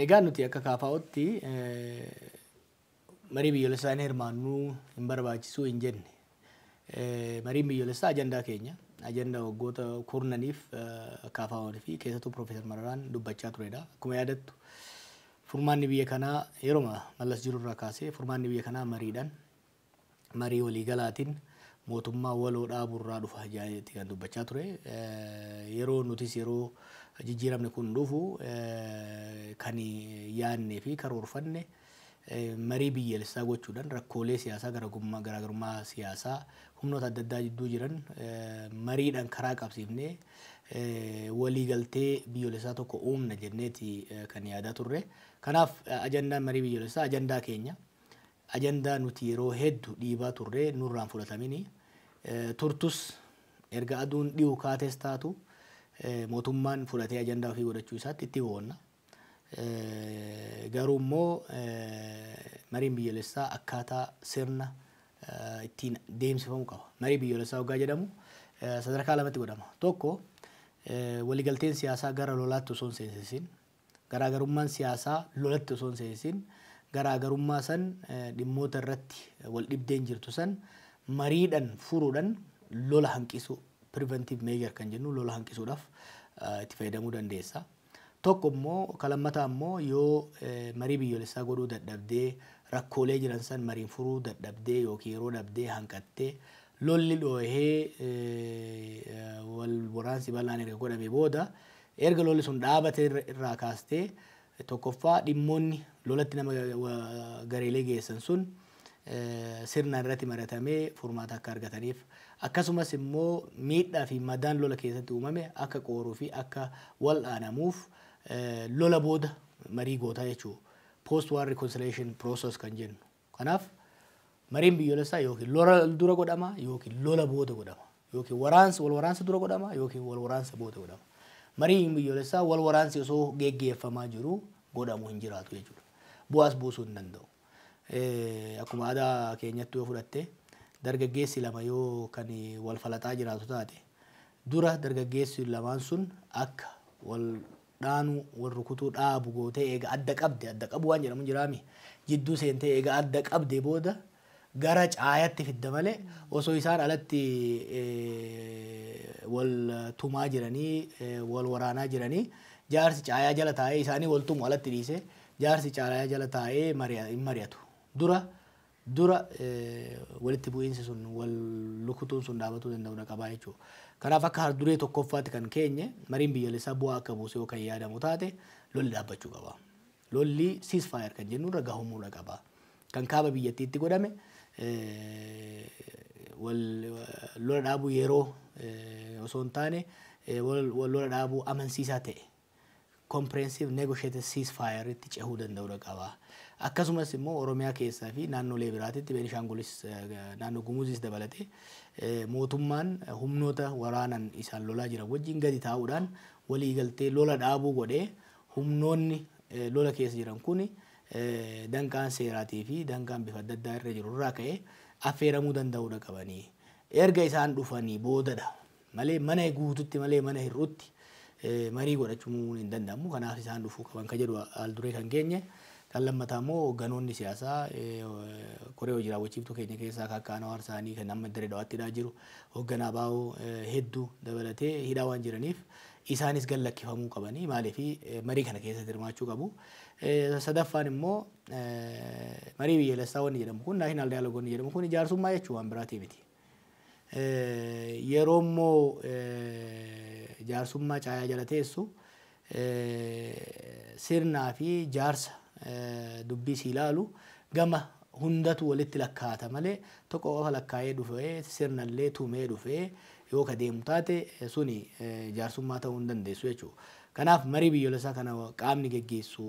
Egaa nuti akka KFOtti marii biyyoolessaa hin hirmaannu, hin barbaachisu hin jenne. Mariin biyyoolessaa ajandaa keenya. Ajandaa waggoota kurnaniif KFOn fi keessattuu Piroofeesar Mararaan dubbachaa turedha. Akkuma yaadattu furmaanni biyya kanaa yeroma mallas jirurraa kaasee furmaanni biyya kanaa mariidhaan marii waliigalaatiin mootummaa waloo dhaabuurraa dhufa jedheetti kan dubbachaa ture. Yeroo nutis yeroo jijjiiramni kun dhufu kan yaadnee fi karoorfanne marii biyyalessaa gochuudhan rakkoolee siyaasaa garaagarummaa siyaasaa humnoota adda addaa jidduu jiran mariidhan karaa qabsiifnee walii galtee biyyolessaa tokko uumna jenneeti kan yaadaa turre. Kanaaf ajandaan marii biyyolessaa ajandaa keenya ajandaa nuti yeroo heddu dhiibaa turre nurraan fudhatamini turtus erga aduun dhihu kaates taatu mootummaan fudhatee ajandaa ofii godhachuu isaatti itti boonna. Garuu immoo mariin biyyolessaa akkaataa sirna ittiin deemsifamu qaba. Marii biyyolessaa hoggaa jedhamu sadarkaa lamatti godhama. Tokko waligalteen siyaasaa gara lolaatti osoo hin seensisin, garaagarummaan siyaasaa lolatti osoo hin seensisin garaagarummaa san dhimmoota irratti wal dhibdeen jirtu san mariidhan furuudhan lola hanqisuu, preventive measure kan jennu lola hanqisuudhaf itti fayyadamuu dandeessa. Tokko immoo ka lammataa immoo yoo marii biyyoolessaa godhuu dadhabdee rakkoolee jiran san mariin furuu dadhabdee yookiin yeroo dhabdee hanqattee lolli dhoohee wal waraansi bal'aan erga godhame booda erga lolli sun dhaabate irraa kaastee tokkoffaa dhimmoonni lolatti nama gareelee geessan sun sirnaan irratti maratamee furmaata akka argataniif akkasumas immoo miidhaa fi madaan lola keessatti uumame akka qooruu fi akka wal'aanamuuf lola booda marii gootaa jechuu post war reconciliation process kan jennu kanaaf mariin biyyoolessaa yookiin lola dura godhama yookiin lola booda godhama yookiin waraansa wal waraansa dura godhama yookiin wal waraansa booda godhama mariin biyyoolessaa wal waraansi osoo geggeeffamaa jiru godhamu hin jiraatu jechuudha bu'aas buusuu hin danda'u. Akkuma aadaa keenyatti yoo fudhatte dargaggeessi lama yoo kan wal falaxaa jiraatu taate dura dargaggeessi lamaan sun akka wal dhaanuu wal rukutuu dhaabu gootee eega adda qabde adda qabu waan jedhamu jiraami jidduu seentee eega adda qabde booda gara caayatti fidda malee osoo isaan alatti wal tumaa jiranii wal waraanaa jiranii jaarsi caayaa jala taa'ee isaanii wal tumu alatti dhiisee Jaarsi caalaaya jala taa'ee hin mari'atu. Dura dura walitti bu'iinsi sun wal lukutuun sun dhaabatuu danda'uudha qabaa jechuudha. Kanaaf akka harduree tokkoffaatti kan keenye mariin biyyalessaa bu'aa akka buusu yoo kan yaadamu taate lolli dhaabbachuu qaba. Lolli ceasefire kan jennu irra gahumuudha qaba. Kan kaaba biyyattiitti godhame wal lola dhaabuu yeroo osoo hin taane wal lola dhaabuu amansiisaa ta'e Comprehensive Negotiated Ceasefire tti cehuu danda'udha qaba. Akkasumas immoo Oromiyaa keessaa fi naannolee biraatitti Beenishaangulis naannoo Gumuzis dabalatee mootummaan humnoota waraanan isaan lolaa jiran wajjin gadi taa'uudhaan waliigaltee lola dhaabuu godhee humnoonni lola keessa jiran kuni danqaan seeraatii fi danqaan bifa adda addaa irra jiru irraa ka'ee affeeramuu danda'udha qabanii. Erga isaan dhufanii boodadha malee mana guututti malee mana hir'utti marii godhachuun hin danda'amu. Kanaaf isaan dhufuu qaban kan jedhu haal duree kan keenye. Kan lammataa immoo hoogganoonni siyaasaa koree hojii raawwachiiftuu keenya keessaa kan akka Anwaar Saanii kan amma Dirree Dhawaatti hidhaa jiru hoogganaa baa'oo hedduu dabalatee hidhaa waan jiraniif isaanis gad lakkifamuu qabanii maaliif marii kana keessatti hirmaachuu qabu. Sadaffaan immoo marii biyyaalessaa wanni jedhamu kun naashinaal daayaloog wanni jedhamu kun ijaarsummaa jechuun waan biraatii miti. Yeroo immoo jaarsummaa caayaa jala teessu sirnaa fi jaarsa dubbii sii laalu gama hundatu walitti lakkaa'ata malee tokko qofa lakkaa'ee dhufee sirna illee tumee dhufee yoo ka deemu taate suni jaarsummaa ta'uu hin dandeessu jechuudha. Kanaaf marii biyyoolessaa kana qaamni geggeessu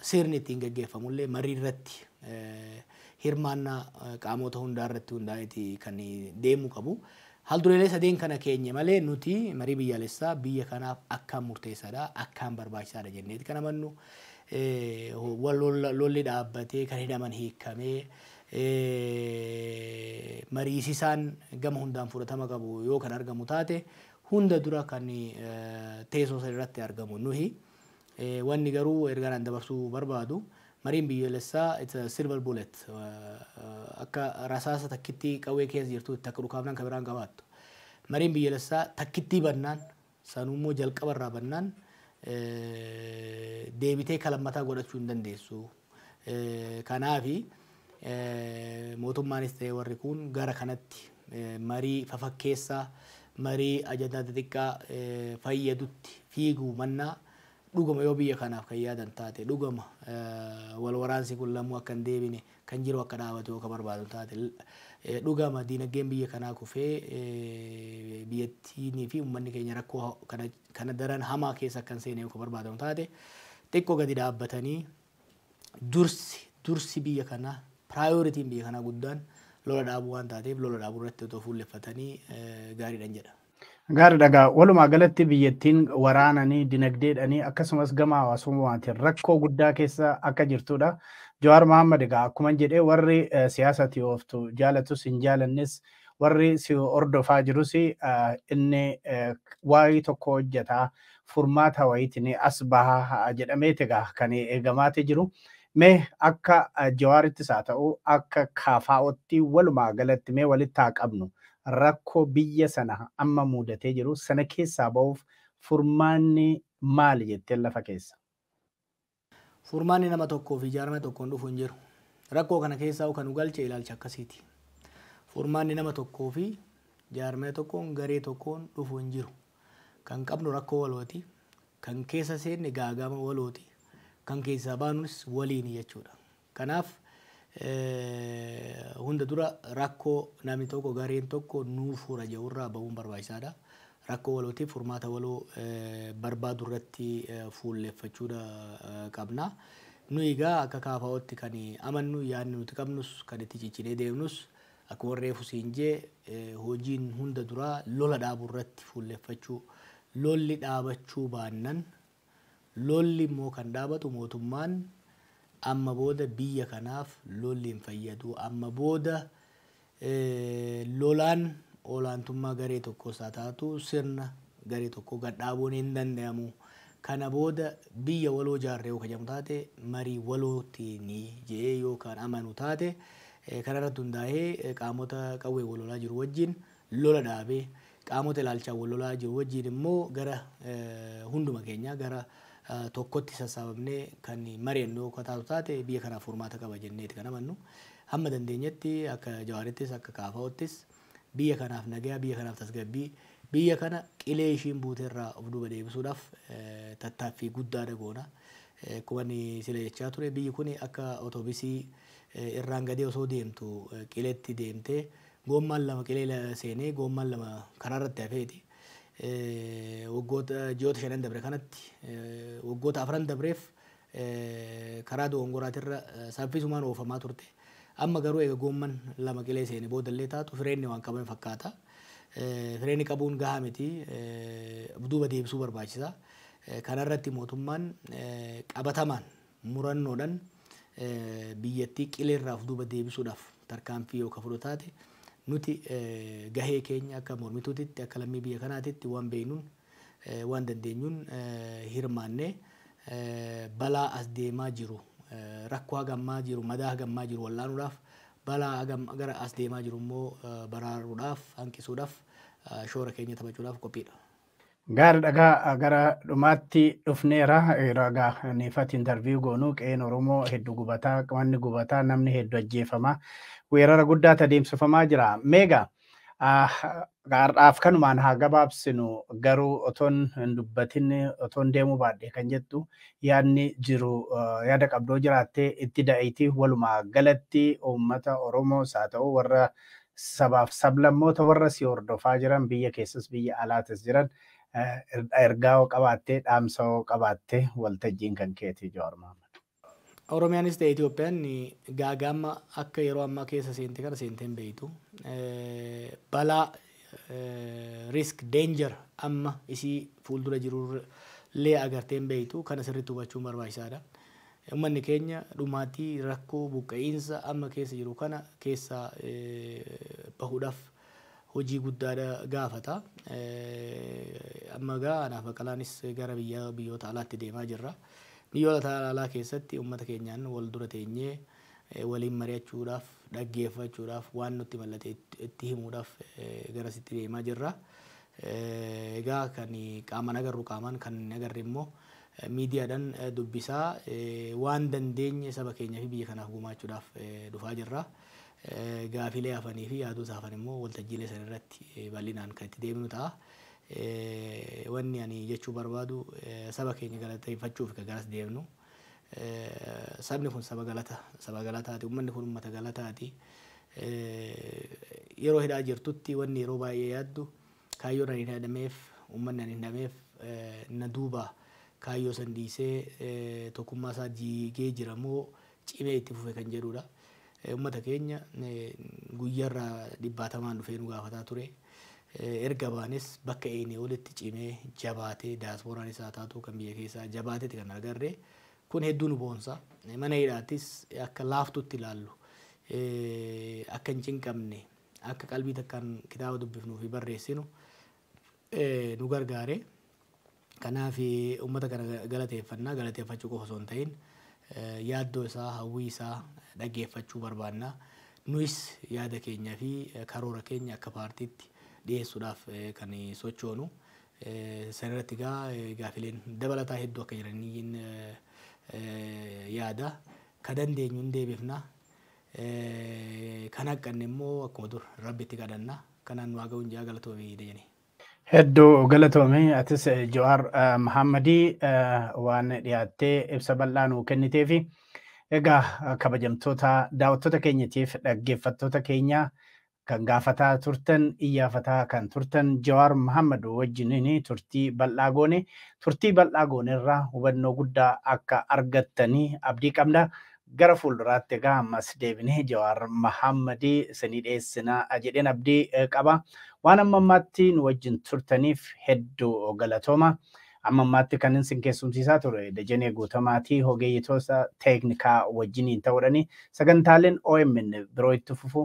Sirni ittiin gaggeeffamullee mariirratti hirmaannaa qaamoota hundaarratti hundaa'eeti kan deemuu qabu. Haaldureelee sadeen kana keenye malee nuti marii biyyaalessaa biyya kanaaf akkaan murteessaadha, akkaan barbaachisaadha jenneeti kan amannu. Lolli dhaabbatee, kan hidhaman hiikkamee, mariisisaan gama hundaan fudhatama qabu yoo kan argamu taate hunda dura kan teesoo sanarratti argamu nuyi. Wanni garuu ergaan an dabarsuu barbaadu mariin biyyoolessaa it's a silver bullet akka rasaasa takkittii qawwee keessa jirtuutti takka dhukaafnaan ka biraan qabaattu. Mariin biyyoolessaa takkittii bannaan sanuu immoo jalqaba irraa bannaan deebitee ka lammataa godhachuu hin dandeessu. Kanaafi mootummaanis ta'ee warri kuun gara kanatti marii fafakkeessaa, marii ajandaa xixiqqaa fayyadutti fiiguu mannaa dhuguma yoo biyya kanaaf kan yaadan taate, dhugama wal waraansi kun lamuu akka hin deebine, kan jiru akka dhaabatu yoo ka barbaadu taate, dhugama diinaggeen biyya kanaa kufee biyyattiinii fi ummanni keenya rakkoo kana kana daran hamaa keessa akkan seene yoo ka barbaadamu taate xiqqo gadi dhaabbatanii dursi dursi biyya kanaa piraayoritiin biyya kanaa guddaan lola dhaabuu waan taateef lola dhaabuu irratti otoo fuulleffatanii gaariidhan jedha. Gaari dhagaa walumaa galatti biyyattiin waraananii dinagdeedhanii akkasumas gama hawaasummaatiin rakkoo guddaa keessa akka jirtudha. Jawaar Mohaammed egaa akkuma jedhee warri siyaasati ooftu jaalatus hin jaalannes warri si hordofaa jirus inni waayii tokko hojjeta furmaata wayiitiin as baha jedhameeti egaa kan eegamaati jiru. Mee akka Jawaarittis haa ta'u akka KFOtti walumaa galatti mee walitti haa qabnu rakkoo biyya sana amma muudatee jiru sana keessaa ba'uuf furmaanni maali jetteen lafa keessa? Furmaanni nama tokkoo fi jaarmaya tokkoon dhufu hin jiru. Rakkoo kana keessaa'uu kan nu galche ilaalcha akkasiiti. Furmaanni nama tokkoo fi jaarmaya tokkoon, garee tokkoon dhufu hin jiru. Kan qabnu rakkoo walooti. Kan keessa seenne gaaga'ama walooti. Kan keessaa baanunis waliini jechuudha. Kanaaf hunda dura rakkoo namni tokko, gareen tokko nuu fura jedhu irraa bahuun barbaachisaa dha. Rakkoo walootiif furmaata waloo barbaaduu irratti fuulleffachuu qabna. Nuyi egaa akka KFOtti kan amannu, yaadni nuti qabnus, kan itti cichinee deemnus akkuman reefu siin jedhe hojiin hunda duraa lola dhaabuu irratti fuulleffachuu, lolli dhaabachuu baannan Lolli immoo kan dhaabatu mootummaan amma booda biyya kanaaf lolli hin fayyadu, amma booda lolaan olaantummaa garee tokkoos haa taatu sirna garee tokkoo gad dhaabuun hin dandayamu, kana booda biyya waloo ijaarra yoo ka jedhamu taate marii walootiini jedhee yoo kan amanu taate kanarratti hundaa'ee qaamota qawween wal lolaa jiru wajjin lola dhaabee qaamota ilaalchaan wal lolaa jiru wajjiin immoo gara hunduma keenyaa gara tokkotti sassaabamnee kan mari'annu yoo taatu taate biyya kanaaf furmaata qaba jenneeti kan amannu. Hamma dandeenyetti akka Jawaarittis akka KFO'ttis biyya kanaaf nagaa, biyya kanaaf tasgabbii, biyya kana qilee ishiin buuterraa of duuba deebisuudhaaf tattaaffii guddaadha goona. Akkuma inni sila jechaa ture biyyi kun akka otobisii irraan gadee osoo deemtu qileetti deemtee Goommaan lama qilee seenee goommaan lama karaa irratti hafeeti. Waggoota ji'oota shanan dabre kanatti waggoota afran dabreef karaa dogongoraatirra saffisumaan oofamaa turte. Amma garuu eega goomman lama qilee seene boodallee taatu fireenni waan qabame fakkaata. Fireenni qabuun gahaa miti of duuba deebisuu barbaachisa. Kanarratti mootummaan qabatamaan murannoodhan biyyattii qileerraa of duuba deebisuudhaaf tarkaanfii yoo ka fudhu taate nuti gahee keenya akka mormituutitti akka lammii biyya kanaatitti waan beeknuun waan dandeenyuun hirmaannee balaa as deemaa jiru rakkoo haga ammaa jiru madaa haga ammaa jiru wal'aanuudhaaf balaa haga amma- gara as deemaa jiru immoo baraaruudhaaf hanqisuudhaaf shoora keenya taphachuudhaaf qophiidha. Gaari dhagaa gara dhumaatti dhufneera. Ragaa niifati intarviyu goonu qe'een Oromoo heddu gubataa, manni gubataa, namni heddu ajjeefama. Weerara guddaa tadeemsifamaa jira. Meega har'aaf kanumaan haa gabaabsinu garuu otoon hin dubbatin otoon deemuu baadhe kan jettu yaadni jiru yaada qabdoo jiraatte itti da'iti walumaa galatti uummata Oromoos haa ta'u warra sabaaf sablammoota warra si hordofaa jiran biyya keessas biyya alaatis jiran ergaa hoo qabaattee dhaamsa hoo qabaatte waltajjiin kan keeti Jawaar Mahaammad. Oromiyaanis ta'e Itoophiyaan gaagaa'ama akka yeroo ammaa keessa seente kana seentee hin beektu. Balaa risk danger amma isii fuuldura jiru illee agartee hin beektu. Kana sirriitti hubachuun barbaachisaadha. Ummanni keenya dhumaatii, rakkoo, buqqa'iinsa amma keessa jiru kana keessaa bahuudhaaf hojii guddaadha gaafata. Amma egaa anaa fi Baqqalaanis gara biyya biyyoota alaatti deemaa jirra. Biyyoota alaa keessatti ummata keenyaan wal dura teenyee waliin mari'achuudhaaf, dhaggeeffachuudhaaf, waan nutti mallate itti himuudhaaf garasitti deemaa jirra. Egaa kan qaamaan agarru qaamaan, kan hin agarre immoo Miidiyaadhan dubbisaa waan dandeenye saba keenyaa fi biyya kanaaf gumaachuudhaaf dhufaa jirra. Gaafiilee hafanii fi yaadoota hafan immoo waltajjiilee san irratti bal'inaan kan itti deebinu ta'a. Wanni ani jechuu barbaadu saba keenya galateeffachuuf ka garas deemnu. Sabni kun saba galata, saba galataati. Ummanni kun ummata galataati. Yeroo hidhaa jirtutti wanni yeroo baay'ee yaaddu. Kaayyoon ani hin hadhameef, uummanni ani hin dhameef na duuba kaayyoo san dhiisee tokkummaa isaa diigee jira moo cimee itti fufe kan jedhuu dha. Uummata keenya guyyaa irra dhibbaatamaan dhufee nu gaafataa ture. Erga baanes bakka eeynee olitti cimee, jabaatee, diasporaanis haa taatuu kan biyya keessaa jabaateeti kan argarre. Kun hedduu nu boonsa. Mana hidhaattis akka laaftuutti ilaallu. Akka hin cinqamne, akka qalbii takkaan kitaaba dubbifnuu fi barreessinu nu gargaare. Kanaaf uummata kana galateeffanna. Galateeffachuu qofa osoo hin ta'in yaaddoo isaa, hawwii isaa dhaggeeffachuu barbaanna. Nuyis yaada keenya fi karoora keenya akka paartiitti dhiyeessuudhaaf kan sochoonu. Sana irratti egaa gaafileen dabalataa hedduu akka jiran yaada. Ka dandeenyu hin deebifna. Kan haqqanne immoo akkuma dur rabbitti kadhanna. Kanaan nu haa ga'u injaa galatoomi Dejane. Heddu galatoomi atis Jawaar Mahammadi waan dhiyaattee ibsa bal'aa nuu kenniteefi. Egaa kabajamtoota daawwattoota keenyatiif dhaggeeffattoota keenya Kan gaafataa turtan, iyyaafataa kan turtan Jawaar Mahaammad wajjiniin turtii bal'aa goone. Turtii bal'aa goonerraa hubannoo guddaa akka argattan abdii qabna. Gara fuulduraatti egaa ammas deebinee Jawaar Mahaammad isinii dhiyeessina jedheen abdii qaba. Waan amma ammaatti nu wajjin turtaniif hedduu galatooma. Amma ammaatti kanin isin keessumsiisaa ture Dajanee Guutamaati hogeeyyitoota teeknikaa wajjiniin ta'uudhani. Sagantaaleen omn biroo itti fufu